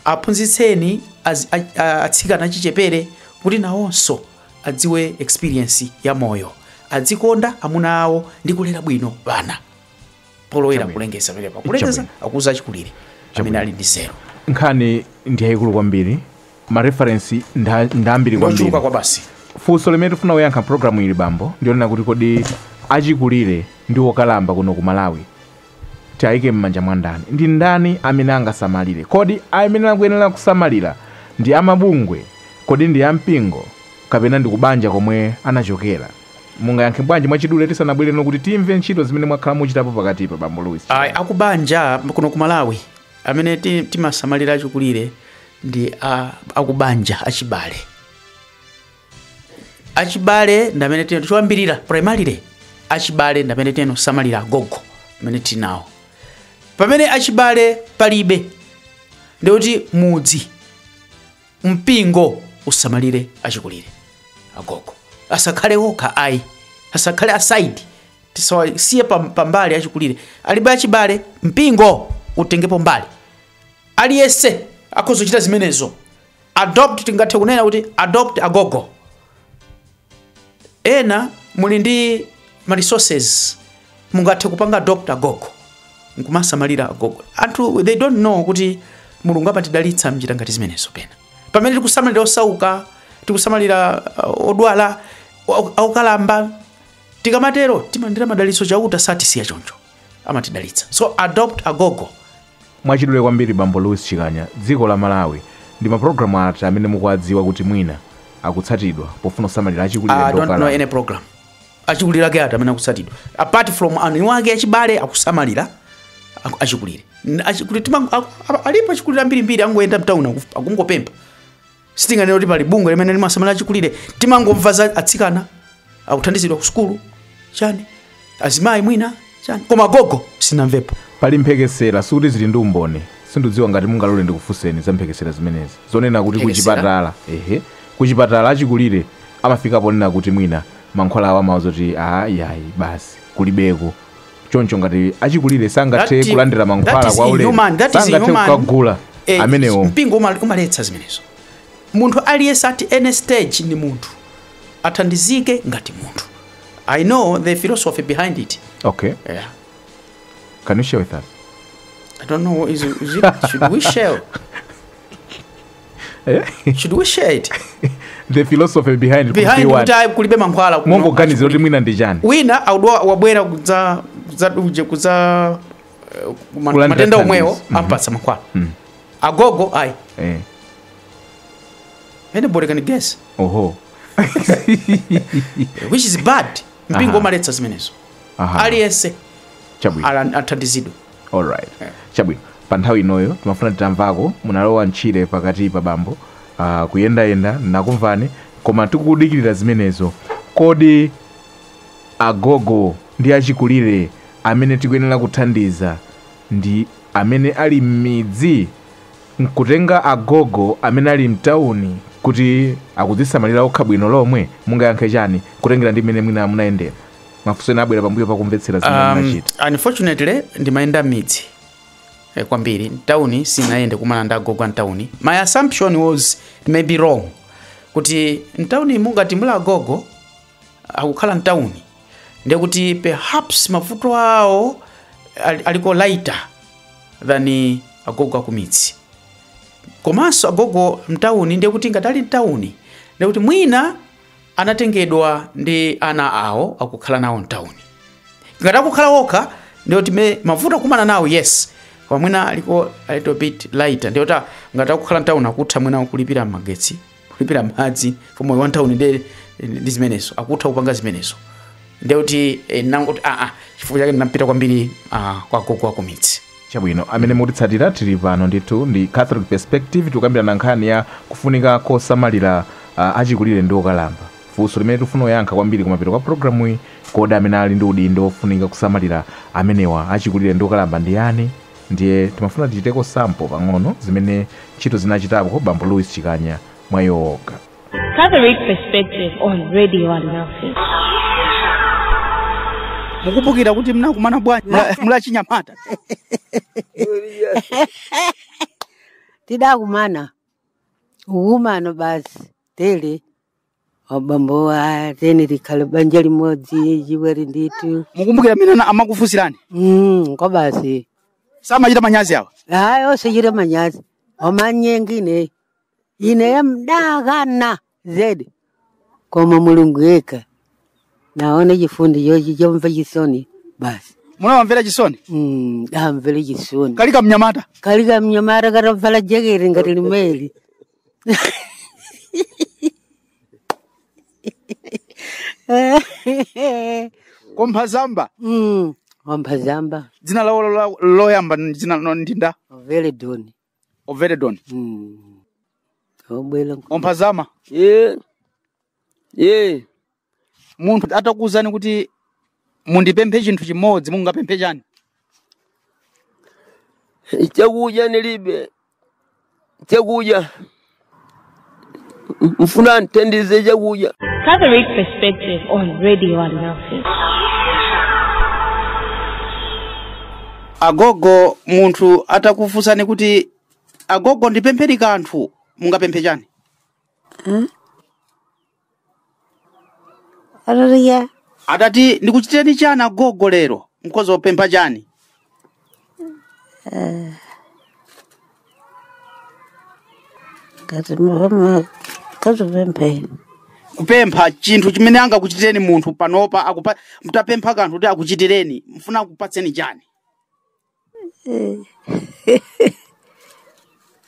[SPEAKER 1] aphunzitseni az- a- a- atsikana achichepere kuti nawonso adziwe experience ya moyo adzikonda amuna awo ndi kulera bwino bana polowera Chabwino. kulengeza pamenepa kulengeza Chabwino. akuuza achikulire amene Chabwino. ali ndi nzeru nkhani
[SPEAKER 2] ndi yayikulu kwambiri mareferensi nda- ndambiri kwambiri ndochuluka koma basi
[SPEAKER 1] funso limene tifuna
[SPEAKER 2] kuyankha mpulogramu ili bambo ndi lonena kuti kodi achikulire ndi okalamba kuno ku malawi Tiwaike m'manja mwa ndani? Ndi ndani amene angasamalire? Kodi amene akuyenera kusamalira ndi a mabungwe? Kodi ndi a mpingo? Kapena ndi kubanja komwe anachokera? Mungayankhe bwanji mwachidule tisanabwere kuti timve ntchito zimene mwakhala mukuchitapo pakatipa, Bambo Louis Ayi, Chirwa?
[SPEAKER 1] akubanja kuno ku Malawi amene ti- timasamalira achikulire ndi a- akubanja achibale achibale ndi amene choyambirira primarily achibale ndi amene timasamalira agogo amene tili nawo pamene achibale palibe ndikuti mudzi mpingo usamalire achikulire agogo asakhale okha ayi asakhale aside tisawasiye pam- pambali achikulire alibe achibale mpingo utengepo mbali aliyense akhoza kuchita zimenezo adopt tingathe kunena kuti adopt agogo ena muli ndi ma resources mungathe kupanga adopt agogo nkumasamalira agogo anthu they don't know kuti mulungu amatidalitsa m'njira ngati zimenezo pena pamene tikusamalira osauka tikusamalira uh, odwala au- aukalamba tikamatero timalandira madalitso chauta satisiya choncho amatidalitsa so adopt agogo
[SPEAKER 2] mwachidule kwambiri bambo louis chikanya dziko la malawi ndi mapulogalamu ati amene mukuwadziwa kuti mwina akutsatidwa pofuna kusamalira achikulire I ndi don't know okalamba? any
[SPEAKER 1] program achikulire ake ati amene akutsatidwa apart from anthu awo ake achibale akusamalira aku- achikulire N- achikulire tima- aku- apa- alipo achikulire ambirimbiri angoyenda mtauni akungopempha sitinganene kuti pali bungwe limene limasamalira achikulire timangomva za atsikana akuthandizidwa ku sukulu chani azimayi mwina chani koma gogo sinamvepo pali mphekesera
[SPEAKER 2] sikuti zili ndi umboni sindikudziwa ngati mungalole ndikufunseni za mphekesera zimenezi zonena kuti Mphekesera? kuchipatala ehe kuchipatala achikulire amafika ponena kuti mwina mankhwala amawauza kuti aa yayi basi kulibeko choncho ngati achikulire sangathe That- kulandira that mankhwala is kwa ulere inhuman, that is sangathe inhuman. kukagula Eh, amenewo mpingo uma- umaletsa
[SPEAKER 1] zimenezo munthu aliyense at any stage ni munthu athandizike ngati munthu i know the philosophy behind it okay
[SPEAKER 2] yeah.
[SPEAKER 1] can
[SPEAKER 2] you share with us i don't know
[SPEAKER 1] is, is it, should we share Eh? should we share it the
[SPEAKER 2] philosophy behind behind kuti kuti ayi
[SPEAKER 1] kulibe mankhwala kuno. mukuganizira kuti mwina
[SPEAKER 2] ndi chani wina wadwala wabwera
[SPEAKER 1] kudza kudza duje kudza eh, ma- Kulandira matenda omwewo thandizo. Mhm. ampatsa mankhwala Mm. agogo ayi Eh, anybody can guess oho which is bad mpingo Aha. umaletsa zimenezo Aha. aliyense chabwino a- athandizidwe
[SPEAKER 2] alright chabwino pa nthawi inoyo timafuna titamvako munalowa ntchire pakati pa bambo uh, kuyendayenda nakumvani koma tikudikirira zimenezo kodi agogo ndi achikulire amene tikuyenera kuthandiza ndi amene ali m'midzi N'kutheka agogo amene ali mtauni kuti akudzisamalira okha bwino lomwe? Mungayankhe chani kutengera ndi mmene mwina munayendera? Mafunso ena abwera pambuyo pa kumvetsera zimene Um, munachita.
[SPEAKER 1] unfortunately ndimayenda m'midzi eh, kwambiri mtauni sinayende kumana ndi agogo a mtauni my assumption was maybe wrong kuti mtauni mungati muli agogo akukhala mtauni ndekuti perhaps mavuto awo ali- aliko lighter than agogo akumidzi komanso agogo mtauni ndekuti ngati ali mtauni ndekuti mwina anatengedwa ndi ana awo akukhala nawo mtauni ngati akukhala okha ndiye kuti mavuto akumana nawo yes koma mwina aliko a little bit lighter ndiye kuti ngati akukhala mtauni akutha mwina kulipira magetsi kulipira madzi for moyo wa mtauni nde ndi zimenezo akutha kupanga zimenezo nde kuti eh, nangoti aa chifukwa chake ndinapita kwambiri ah, kwa agogo akumidzi chabwino amene
[SPEAKER 2] mutitsatira tili pano ndithu ndi catholic perspective tikukambirana nkhani ya kufunika kosamalira uh, achikulire ndi okalamba funso limene tifuna kuyankha kwambiri kumapeto kwa programu iyi kodi amene ali ndi udindo wofunika kusamalira amenewa achikulire ndi okalamba ndi yani Ndiye timafuna tichite ko sample pang'ono zimene ntchito zina achitapo bambo Louis Chikanya mwa iwo okha. Catholic
[SPEAKER 3] Perspective on Radio
[SPEAKER 1] Alinafe. mukumbukira kuti mnakumana bwanji mula-
[SPEAKER 5] mulachinyamata tidakumana kukumana basi tele abambowa atere tikhale banja limodzi chiweri ndithu mukumbukira mmene
[SPEAKER 1] ana- amakufunsirani Mm,
[SPEAKER 5] kwa basi samachita
[SPEAKER 1] manyazi awa hayi osachita
[SPEAKER 5] manyazi amanyenga ineyo ineyo ndidakana zedi koma mulungu yekha naona chifundi chochi chomva chisoni basi munawamvera chisoni
[SPEAKER 1] Mm, ndawamvera
[SPEAKER 5] chisoni kali kamnyamata
[SPEAKER 1] kali kamnyamata
[SPEAKER 5] katavala jeketi ngati limeli
[SPEAKER 1] komphazamba mm.
[SPEAKER 5] wamphazamba dzina lawo
[SPEAKER 1] la- loyamba ndi dzina no- ndi ndani ovele
[SPEAKER 5] doni
[SPEAKER 1] overedon mm.
[SPEAKER 5] obwera komphazama ye
[SPEAKER 1] ye munthu atakuwuzani kuti mundipemphe chinthu chimodzi mungapemphe
[SPEAKER 6] chani chakudya ndilibe chakudya mfuna andithandize chakudya
[SPEAKER 3] Catholic Perspective on Radio Alinafe.
[SPEAKER 1] agogo munthu atakufunsani kuti agogo ndipempheni kanthu mungapemphe chani
[SPEAKER 5] Haleluya.
[SPEAKER 1] atati ndikuchitireni chani agogo lero mkhoza kupempha chani
[SPEAKER 5] Ngati muhoma kazopemphera.
[SPEAKER 1] kupempha chinthu chimene angakuchitireni munthu panopa mtapempha kanthu kuti akuchitireni mfuna akupatseni chani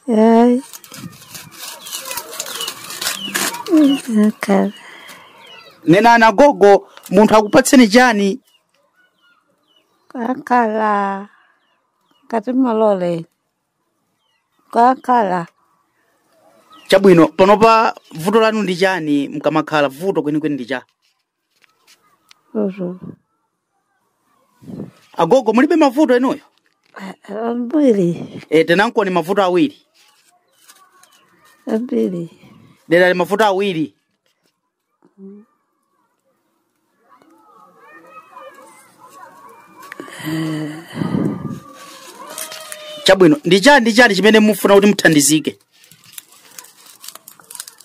[SPEAKER 1] Ay, akala. nenani agogo munthu akupatseni chani
[SPEAKER 5] Kakhala. Ngati malole. Kakhala.
[SPEAKER 1] chabwino panopa vuto lanu ndi chani mkamakhala vuto kwenikweni ndi cha agogo mulibe mavuto inuyo ambiri
[SPEAKER 5] e, tanenankoni
[SPEAKER 1] mavuto awiri
[SPEAKER 5] ambiri dera ali mavuto
[SPEAKER 1] awiri chabwino ndi chani ndi chani chimene mufuna kuti muthandizike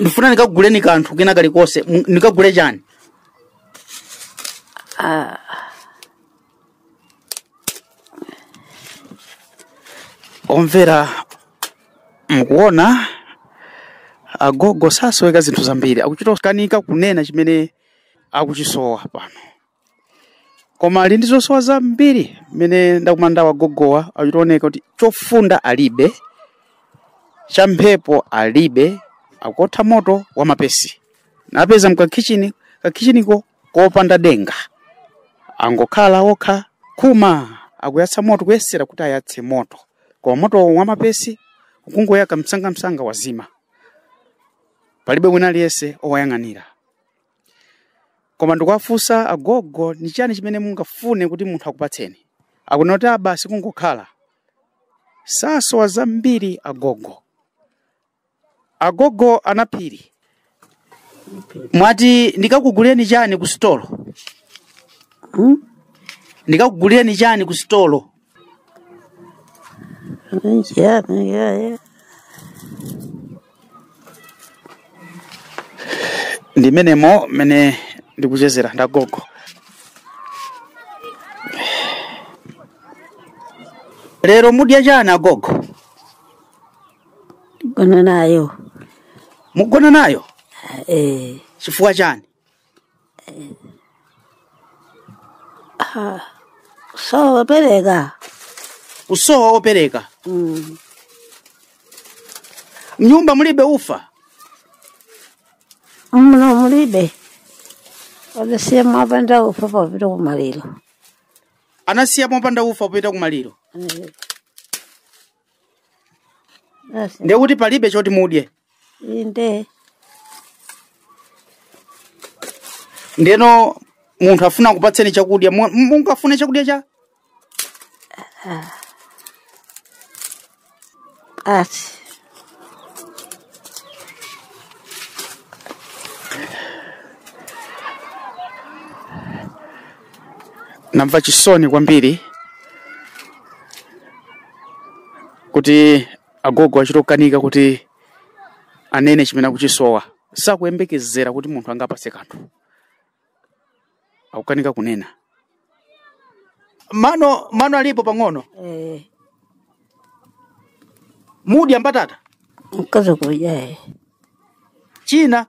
[SPEAKER 1] ndifuna ndikaguleni kanthu kena kalikonse M- ndikagule chani omvera mukuona agogo akusoweka zinthu zambiri akuchita kukanika kunena chimene akuchisowa pano koma ali ndi zosowa zambiri mmene ndakumana nawo agogowa akuchita kuoneka kuti chofunda alibe cha mphepo alibe akuotha moto wa mapesi napeza mkakhicini kakhichiniko kopanda denga angokhala okha koma akuyatsa moto kuyesera kuti ayatse moto koma moto wa mapesi ukungoyaka msangamsanga wazima palibe wina aliyense owayang'anira koma ndikuwafunsa agogo ni chani chimene mungafune kuti munthu akupatseni akunena kuti abasi kungokhala sakusowa zambiri agogo agogo a Naphiri mwati ndikakugulireni chani ku sitolo Hmm? ndikakugulireni chani ku sitolo Yeah, yeah, yeah. ndimenemo mene ndikuchezera ndagogo lero mudya chani agogo
[SPEAKER 5] Gonna nayo. mugona
[SPEAKER 1] nayo Eh, chifukwa chani
[SPEAKER 5] kusowa opereka kusowa
[SPEAKER 1] opereka Mm. mnyumba mulibe ufa
[SPEAKER 5] muno mulibe anasiya mopanda ufa popita kumaliro
[SPEAKER 1] anasiya mopanda ufa popita kumaliro Eh, Basi. ndiye kuti palibe choti mudye Inde. ndeno munthu afuna kupatseni chakudya mu- mungafune chakudya cha
[SPEAKER 5] Basi.
[SPEAKER 1] namva chisoni kwambiri kuti agogo achita kukanika kuti anene chimene akuchisowa sakuyembekezera kuti munthu angapase kanthu akukanika kunena mano mano alipo pang'ono Eh, mumadya mbatata mkazi
[SPEAKER 5] kudya
[SPEAKER 1] china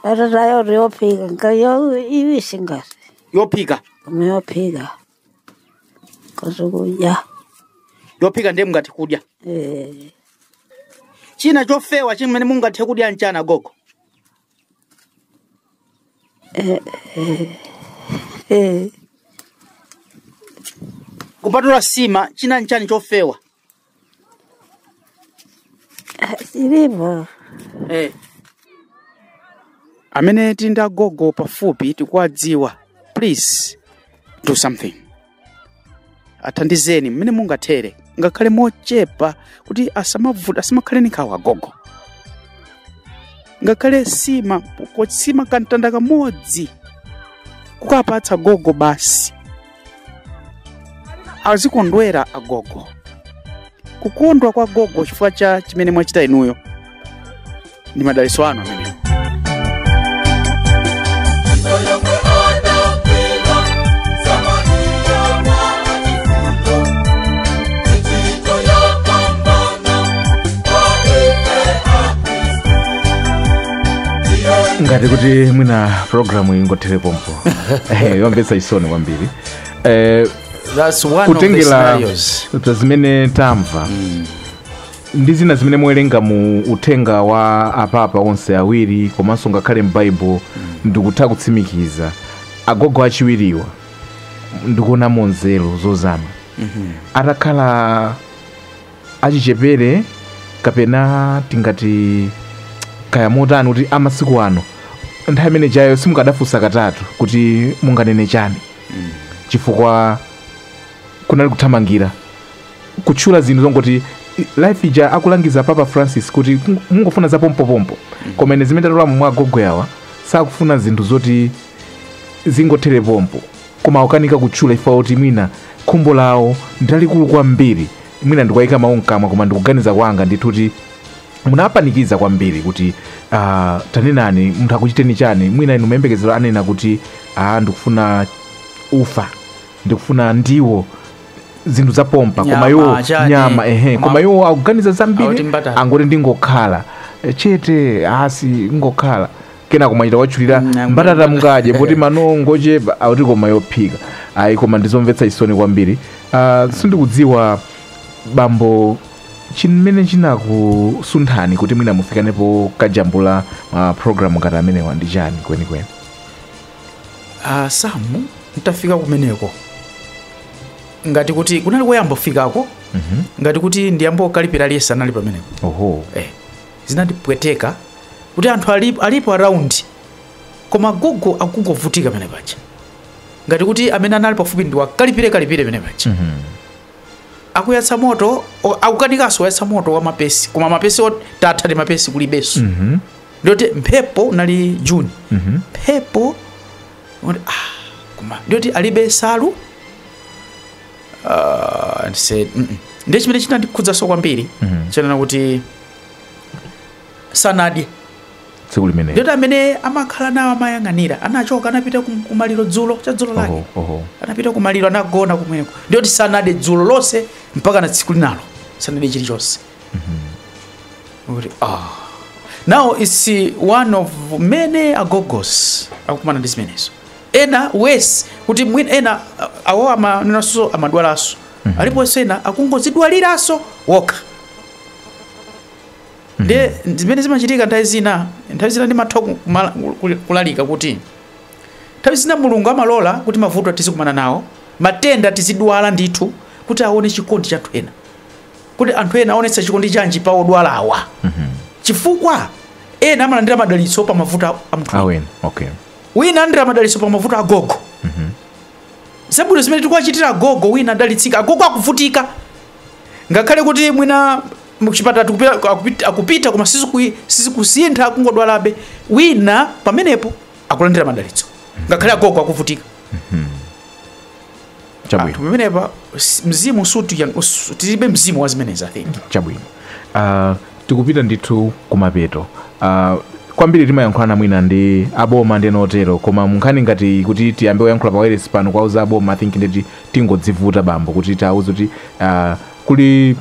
[SPEAKER 5] Mbatatayo yophika kaya yaiwisi ngati
[SPEAKER 1] yophika koma yophika
[SPEAKER 5] kazukudya yophika
[SPEAKER 1] ndiye mungathe kudya eh, china chofewa chimene mungathe kudya mchana gogo eh, kupatula sima china nchani chofewa
[SPEAKER 5] Zilipo.
[SPEAKER 1] Eh. amene tili ndi agogo pafupi tikuwadziwa please do something athandizeni mmene mungathere ngakhale mochepa kuti asamavu- asamakhale ni nkhawa agogo ngakhale sima ko- sima kamtanda kamodzi kukapatsa gogo basi azikondwera agogo kukondwa kwa gogo chifukwa cha chimene mwachita inuyo ndi madalitso anu amenewo
[SPEAKER 2] ngati kuti mwina programu ingothere pompo Eh, yomvetsa chisoni kwambiri
[SPEAKER 1] Eh, That's one of the kutengera scenarios. za zimene
[SPEAKER 2] tamva ndi zina zimene mwawerenga mu uthenga wa apapa onse awiri komanso ngakhale m'baibulo ndikutha kutsimikiza agogo achiwiriwa ndikuonamo nzeru zozama atakhala achichepere kapena tingati kaya motani kuti amasiku ano nthawi imene ijayo simukadafunsa katatu kuti munganene chani chifukwa kunali kuthamangira kutchula zinthu zongoti life ija akulangiza papa francis kuti "Mung- mungofuna za pompopompo koma ine zimene tatolamo mwa agogowa awa sakufuna zinthu zoti zingothere pompo koma akukanika kutchula chifukwa choti mwina khumbo lawo ndilalikulu kwambiri mwina ndikuwaika mawu mkamwa koma ndikuganiza kwanga ndithu kuti munapanikiza kwambiri kuti uh, tanenani munthu akuchiteni chani mwina inu mayembekezero anena kuti ah, ndikufuna ufa ndikufuna ndiwo zinthu zapompo koma Nyama, iwo chani, nyama ehe koma- koma iwo akuganiza Akuti zambiri mbatata. angoti ndingokhala chete asi ngokhala kenako mwachita kuwatchulira Mm, I'm- mbatata mukadye poti mano ngochepa akuti koma yophika ayi koma ndizomvetsa chisoni kwambiri Ah, sindikudziwa bambo chimene chinakusunthani kuti mwina mufike napo kujambula ma programu ngati amenewa ndi chani kwenikweni
[SPEAKER 1] Ah, Sam nditafika kumeneko ngati kuti kunali koyamba kufikako ngati kuti ndiyamba okalipira liyesa anali pamenepo oho eh. Zinandipweteka kuti anthu ali, alipo around koma gogo akungovutika pamene paja ngati kuti amene anali pafupi ndi wakalipire kalipire pamene paja mm -hmm. akuyatsa moto o- akukanikanso kuyatsa moto wa mapesi koma mapesi ot- tatha ndi mapesi kulibenso mm -hmm. ndiyoti mphepo unali juni mm -hmm. mphepo oti, ah, koma ndiyoti alibe nsalu uh, and said mm -mm. ndiye chimene chinandikhudzaso kwambiri mm -hmm. ananena kuti sanadye tsiku limene
[SPEAKER 2] ndiyoti amene amakhala
[SPEAKER 1] nawo amayang'anira anachoka anapita kumaliro dzulo cha dzulo lake oh, oh. anapita kumaliro anagona kumweneko ndiyoti sanadye dzulo lonse mpaka na tsiku linalo sanadye chilichonse mm -hmm. kuti ah oh. now it's one of many agogos akukumana ndi zimenezo ena worse kuti mwina ena uh, awo amanenanso amadwalanso mhm. aliponso ena akungozidwaliranso okha mhm. nde zimene zimachitika nthawi zina nthawi zina ndimatha kulalika kuti nthawi zina mulungu amalola kuti mavuto tizikumana nawo matenda tizidwala ndithu kuti aone chikondi cha anthu ena kuti anthu ena aonetsa chikondi chanji pa odwalawa mhm. chifukwa ena amalandira madalitso pa mavuto a ena
[SPEAKER 2] wina alandira
[SPEAKER 1] madalitso pa mavuto a agogo zabwino zimene tikuwachitira agogo wina adalitsika agogo akuvutika ngakhale kuti mwina mchipatala tikupita- akupita- akupita koma siziku- sizikusintha kungodwalabe wina pamenepo akulandira madalitso ngakhale agogo akuvutika
[SPEAKER 2] chabwino anthu pamenepa
[SPEAKER 1] s- mzimu sikuti yang- us- tilibe mzimu wa zimenezi i think chabwino
[SPEAKER 2] uh, tikupita ndithu kumapeto uh, kwambiri timayankhulana mwina ndi aboma ndi ena otero koma munkhani ngati kuti tiyambe kuyankhula pa wireless pano kwauza aboma i think ndiye kuti tingodzivuta bambo kuti tiawuze kuti uh, kuli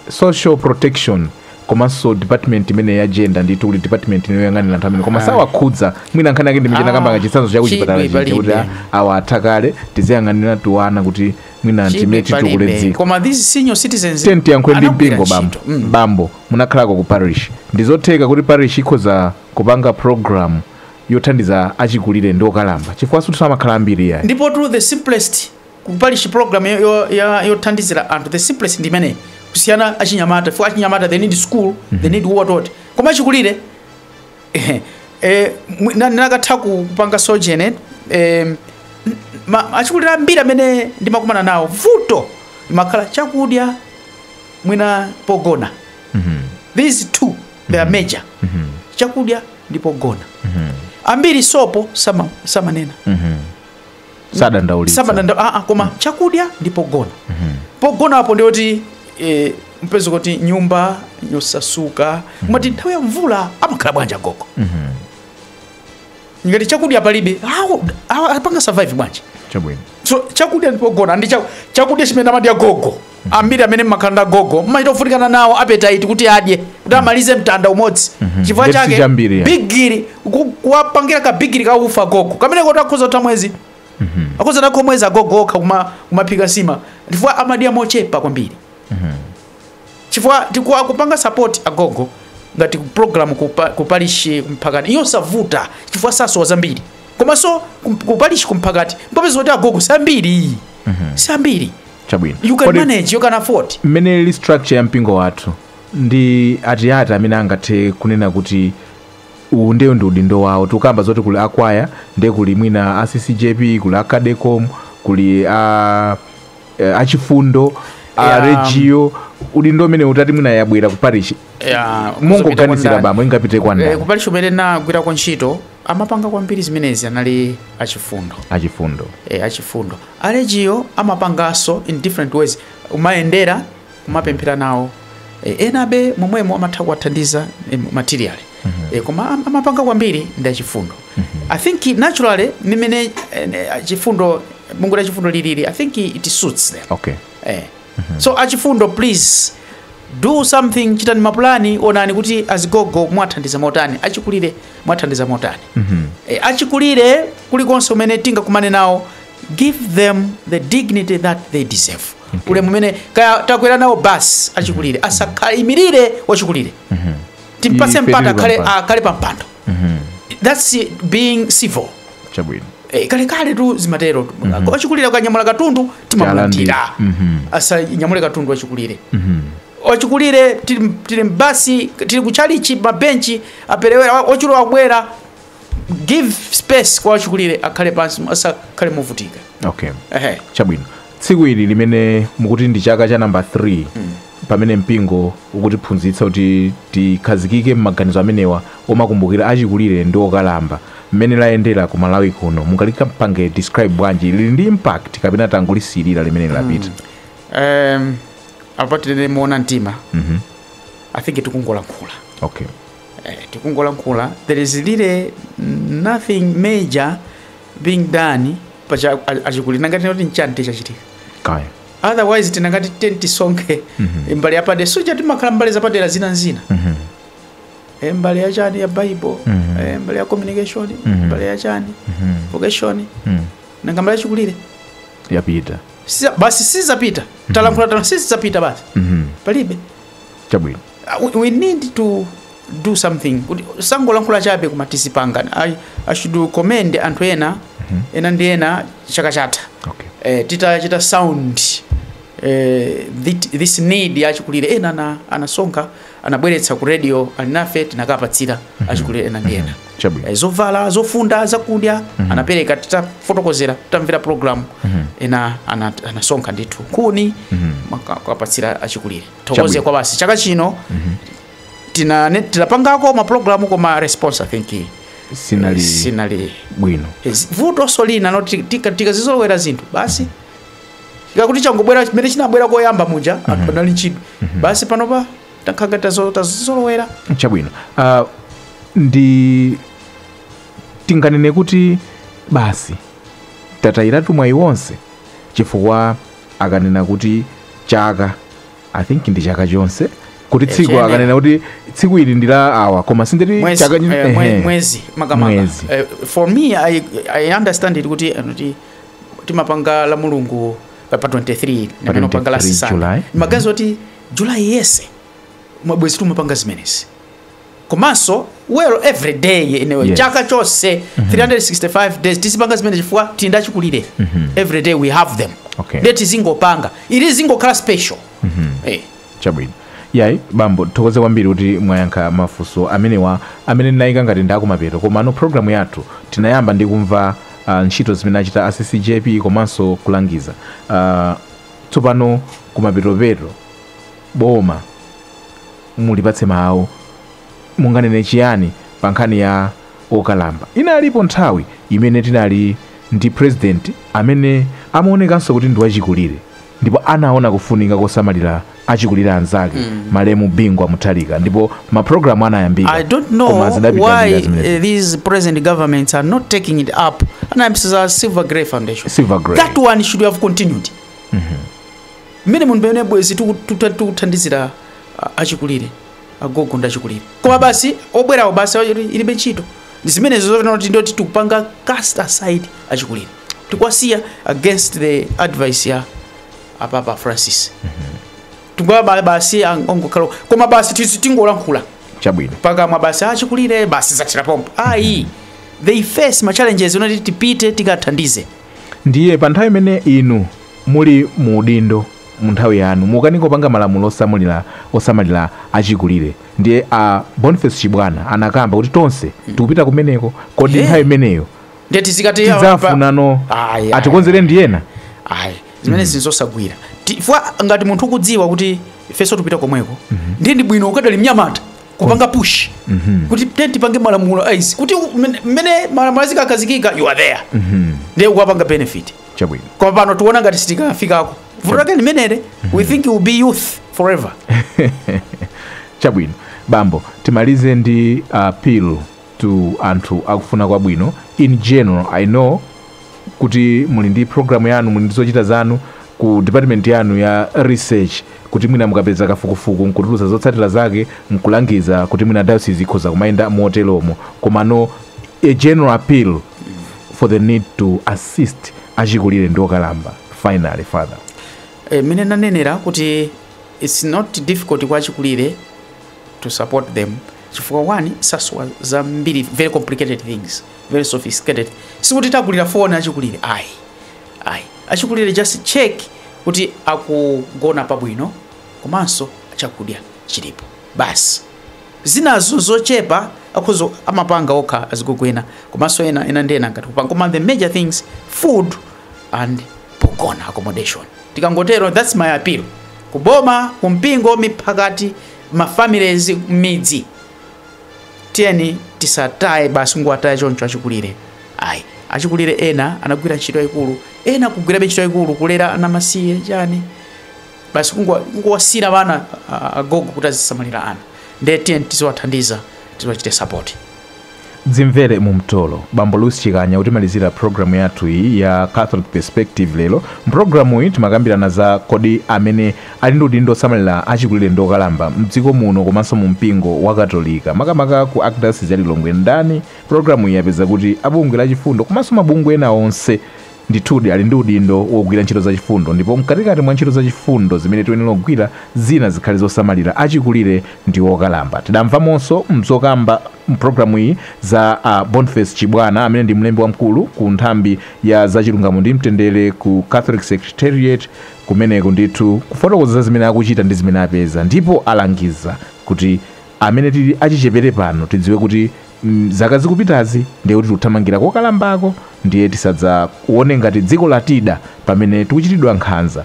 [SPEAKER 2] social protection komanso department imene ya gender ndithu kuli department ina yoyang'anira anthu amene koma sawakhudza mwina nkhani yake ndi michena Ah, kamba ka chitsanzo cha kuchipatala chidwi chija kuti palibe. a- awa atha kale tiziyang'anira tiwana kuti mwina Chidwi timene titukule palibe. dziko koma these senior
[SPEAKER 1] citizens tiye tiyankhule ndi anagwira
[SPEAKER 2] mpingo bambo ntchito. Mm. bambo munakhalako ku parish ndizotheka kuti parish ikhoza kupanga program yothandiza achikulire ndi okalamba chifukwa sikuti amakhala ambiri yayi ndipo to the simplest
[SPEAKER 1] ku parish program yo- yo- ya- yothandizira anthu the simplest ndi imeneyi kusiyana achinyamata for achinyamata they need school they need what what koma achikulire eh, eh, mwi- na- nakatha ku- kupanga zoterezi eh, ma- achikulire ambiri amene ndimakumana nawo vuto limakhala chakudya mwina pogona these two they are major chakudya ndi pogona ambiri sopo sama- samanena
[SPEAKER 2] sadandaulitsa samadanda aa ah, koma
[SPEAKER 1] chakudya ndi pogona pogona apo ndi oti eh, mupeza kuti nyumba yosasuka kumati nthawi ya mvula amakhala bwanji agogo ngati chakudya palibe awo- awo apanga survive bwanji chabwino so
[SPEAKER 2] chakudya ndi
[SPEAKER 1] pogona ndi chaku- chakudya chimene amadya gogo ambiri amene mmakhala ndi agogo mmachita kuvutikana nawo appetite kuti adye kuti amalize mtanda umodzi chifukwa Ndiye chake sichambiri, ya. bigiri ku- kuwapangira ka bigiri ka ufa agogo kamene kuti akhoza kutha mwezi akhoza kutha mwezi agogo okha kuma- kumaphika nsima chifukwa amadya mochepa kwambiri chifukwa chake kupanga support agogo ngati program kupa, ku parish kumphakati ndi yosavuta chifukwa sasowa zambiri komanso kum- ku parish kumphakati mukapeza kuti agogo sambiri sambiri
[SPEAKER 2] chabwino you can Kodi manage you
[SPEAKER 1] can afford mmene ili structure
[SPEAKER 2] ya mpingo wathu ndi ati ati amene angathe kunena kuti uwu ndeyo ndi udindo wawo tikukamba zoti kuli akwaya ndiye kuli mwina a ccjp kuli a cadecom kuli a eh, achifundo a Yeah. alejiyo udindo umene utati mwina yabwera ku parish Yeah, mungoganizira kupita bambo ingapite kwa Eh, ndani ku parish kumene ndagwirako
[SPEAKER 1] ntchito amapanga kwambiri zimenezi anali achifundo achifundo eh, achifundo Alejiyo amapanganso in different ways, kumayendera, kumapemphera nawo e, enabe momwemo amatha kuwathandiza e, materially mm -hmm. e, koma amapanga kwambiri ndi achifundo mm -hmm. I think naturally mmene e, chifundo bungwe la chifundo lilili I think it suits them okay. e. so achifundo please do something chitani mapulani onani kuti azigogo mwathandiza motani achikulire mwathandiza motani Eh, achikulire kulikonse kumene tingakumane nawo give them the dignity that they deserve ulemu umene kaya takwera nawo bus achikulire asakaimirire wachikulire timpatse Ife mpata tili akhale pampando. akhale pampando that's being civil chabwino
[SPEAKER 2] Eh, kalekaletu
[SPEAKER 1] zimaterotu. wachikulire akanyamula katundu timamulandira Mhm. asanyamule katundu wachikulire wachikulire tili tili mbasi tili kuchalichi mabenchi aperewera wa- wachikulire akubwera give space kwa wachikulire akhale pansi asakhale movutika okay ehe
[SPEAKER 2] chabwino Tsiku ili limene mukuti ndi chaka cha number 3 pamene mpingo ukutiphunzitsa kuti tikhazikike m'maganizo amenewa omakumbukira achikulire ndi okalamba, mmene layendera ku Malawi kuno mungalipange describe bwanji? Lili ndi impact kapena tangolisiyirira limene lapita? um,
[SPEAKER 1] apa tinene moona mtima Mhm. i think tikungolankhula Okay. eh, tikungolankhula there is really nothing major being done pa cha- a- achikulire nanga tinoti nchani tichachitika kaya
[SPEAKER 2] otherwise tinangati
[SPEAKER 1] ten tisonkhe mbali yapadera soja timakhala mbali zapadera zina nzina Eh, mbali ya chani ya bible eh, mbali ya communication mbali ya chani vocation nanga mbali yachikulire yapita
[SPEAKER 2] Siza- basi
[SPEAKER 1] sizapita talankhula tano sizapita basi palibe chabwino
[SPEAKER 2] Uh, we
[SPEAKER 1] need to do something kuti tisangolankhula chabe koma tizipanga I, i should commend anthu ena mm -hmm. ena ndi ena chaka chatha okay. eh, titachita sound eh, this, this need ya achikulire ena ana, anasonkha anabweretsa ku radio alinafe tinakapatsira mm -hmm. achikulire ena ndi ena mm -hmm. eh,
[SPEAKER 2] zovala
[SPEAKER 1] zofunda zakudya mm -hmm. anapereka titafotokozera titamvera program mm -hmm. ena anasonkha ana ndithu nkhuni mm -hmm. kukapatsira achikulire tithokoze kwa basi chaka chino tinane- tinapangako maprogramu koma response i think sinali sinali bwino
[SPEAKER 2] Yes, vutonso
[SPEAKER 1] lina nalo ti- tika- tikazizolowera zinthu basi zikakhala kuti changobwera chimene chinabwera koyamba muja anthu anali ndi chidwi basi panopa takhala ngati tazo- tazizolowera
[SPEAKER 2] chabwino uh, ndi tinganene kuti basi tatayiratu mwayi wonse chifukwa akanena kuti chaka i think ndi chaka chonse kuti tsiku chiyenera. akanena kuti tsiku ili ndi la awa koma si ndi mwezi, chaka chi- eh, mwe- ehe. mwezi
[SPEAKER 1] makamaka Mwezi. Eh, for me I, i understand it kuti eh, kuti timapanga la mulungu pa pa 23 Pa ndi pamene timapanga la 23 Zikusiyana July. maganizo oti julayi yense mwina bwezi timapanga zimenezi komanso well every day inewe yes. chaka chonse mm -hmm. 365 days tizipanga zimenezi chifukwa tili ndachikulire mm -hmm. every day we have them okay. nde tizingopanga ili zingokhala special mm -hmm. hey.
[SPEAKER 2] chabwino ayi bambo tithokoze kwambiri kuti mwayankha mafunso amenewa amene ndinayika ngati ndakumapeto komano programu yathu tinayamba ndi kumva uh, ntchito zimene achita a ccjp komanso kulangiza uh, tsopano kumapetopeto boma Mulipatse mawu. Munganene chiyani pa nkhani ya okalamba? Inalipo nthawi imene tinali ndi pulezidenti amene amaonekanso kuti ndi wachikulire ndipo anaona kufunika kosamalira achikulire anzake, malemu Bingu wa Mutharika ndipo mapulogalamu anayambika I don't know koma zidapita
[SPEAKER 1] why njira zimenezi. uh, these present governments are not taking it up. And I'm saying Silver Grey Foundation. Silver Grey. That one
[SPEAKER 2] should have
[SPEAKER 1] continued. mmene muno pamene bwezi tiku- tiku- tikuthandizira a- achikulire agogo ndi achikulire koma basi obwerawo basi awa- ili- ilibe ntchito ndi zimenezo zotana kuti ndoti tikupanga cast aside achikulire tikuwasiya against the advice ya apapa francis tikuwa basi ang- ongokhala koma basi tizi- tingolankhula chabwino
[SPEAKER 2] pakamwa
[SPEAKER 1] basi achikulire basi zathera pompo ayi they face ma challenges unati tipite tikathandize ndiye pa
[SPEAKER 2] nthawi imene inu Muli mu udindo mu nthawi yanu mukanika kupanga malamulo osamulira osamalira achikulire ndiye a Boniface Chibwana anakamba kuti tonse tikupita kumeneko kodi He. nthawi imeneyo ndiye tizikati awa pa-
[SPEAKER 1] tidzafunano Ayi,
[SPEAKER 2] ayi, atikonzere ndi ena ayi
[SPEAKER 1] zimenezi nzosagwira chifukwa ngati munthu ukudziwa kuti ifenso tupita komweko ndiye ndi bwino ukadali mnyamata kupanga push kuti tiyeni tipange malamulo a izi kuti u- mmene- mmene malamulo azikakhazikika you are there ndiye ukapanga benefit chabwino koma
[SPEAKER 2] pano tiona
[SPEAKER 1] ngati sitikafikako vuto lake limenero we think you will be youth forever
[SPEAKER 2] chabwino bambo timalize ndi appeal to anthu akufuna kwabwino in general i know kuti muli ndi programu yanu muli ndi zochita zanu ku department yanu ya research kuti mwina mukapeza kafukufuku nkutulusa zotsatira zake nkulangiza kuti mwina diocese ikhoza kumayenda moteromo komano a general appeal for the need to assist achikulire ndi okalamba finally father Eh, mene
[SPEAKER 1] nanenera kuti its not difficult kwa achikulire to support them chifukwa one sasowa zambiri very complicated things very sophisticated sikuti tagulira foni achikulire ayi ayi achikulire just check kuti akugona pabwino komanso chakudya chilipo basi zinazo nzochepa akhoza amapanga okha adzukulu ena komanso ena ena ndi ena angathe kupanga koma the major things food and pogona accommodation tikangotero that's my appeal kuboma kumpingo miphakati mafamilies mmidzi tiyeni tisataye basi nkuwataya choncho achikulire ayi achikulire ena anagwira ntchito yayikulu ena akugwirabe ntchito yayikulu kulera ana amasiye chani basi kungo- kungowasiyira bana a- agogo kuti azisamalira ana ndiye tiyeni tiziwathandiza tiziwachite sapoti dzimvere
[SPEAKER 2] mu mtolo bambo lusi chikanya kutimalizira programu yathu iyi ya catholic perspective lero mpulogalamu iyi timakambirana za kodi amene ali ndi udindo osamalira achikulire ndi okalamba mdziko muno komanso mu mpingo wa katolika makamaka ku archdiocese ya lilongwe ndani pulogalamu iyi yapeza kuti abungwe la chifundo komanso mabungwe ena onse Ndithudi, ali ndi udindo wogwira ntchito zachifundo, ndipo mkatikati mwa ntchito zachifundo zimene tiyenera kugwira, zina zikhale zosamalira achikulire ndi okalamba. Tidamvamonso m'zokamba m'programu iyi za a Bonface Chibwana amene ndi mlembi wamkulu ku nthambi ya za chilungamo ndi mtendere ku Catholic Secretariat kumeneko ndithu kufotokoza zimene akuchita ndi zimene apeza ndipo alangiza kuti Amene tili achichepere pano tidziwe kuti zaka zikupitazi ndiye kuti tikuthamangira kokalambako ndiye tisadzaone ngati dziko latida pamene tikuchitidwa nkhanza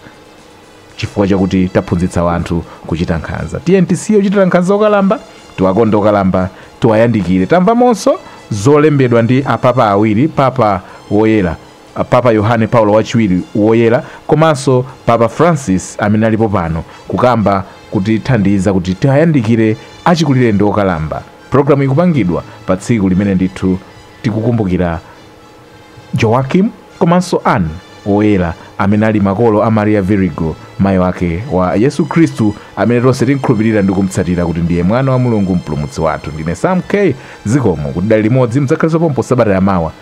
[SPEAKER 2] chifukwa chakuti taphunzitsa wanthu kuchita nkhanza. Tiyeni tisiye kuchitira nkhanza okalamba, tiwakonde okalamba, tiwayandikire. Tamvamonso zolembedwa ndi a Papa awiri, Papa woyera. Papa Yohane Paulo Wachiwiri Woyera komanso Papa Francis amene alipo pano kukamba kutithandiza kuti tiayandikire achikulire ndi okalamba. Programu ikupangidwa pa tsiku limene ndithu tikukumbukira Joachim komanso Anne Woyera amene ali makolo a Maria Virigo mayi wake wa Yesu Khristu amene tonse timkhulupirira ndi kumtsatira kuti ndiye mwana wa Mulungu mpulumutsi wathu. Ndine Sam K. Zikomo kuti tidali limodzi mudzakhalenso pompo sabata yamawa.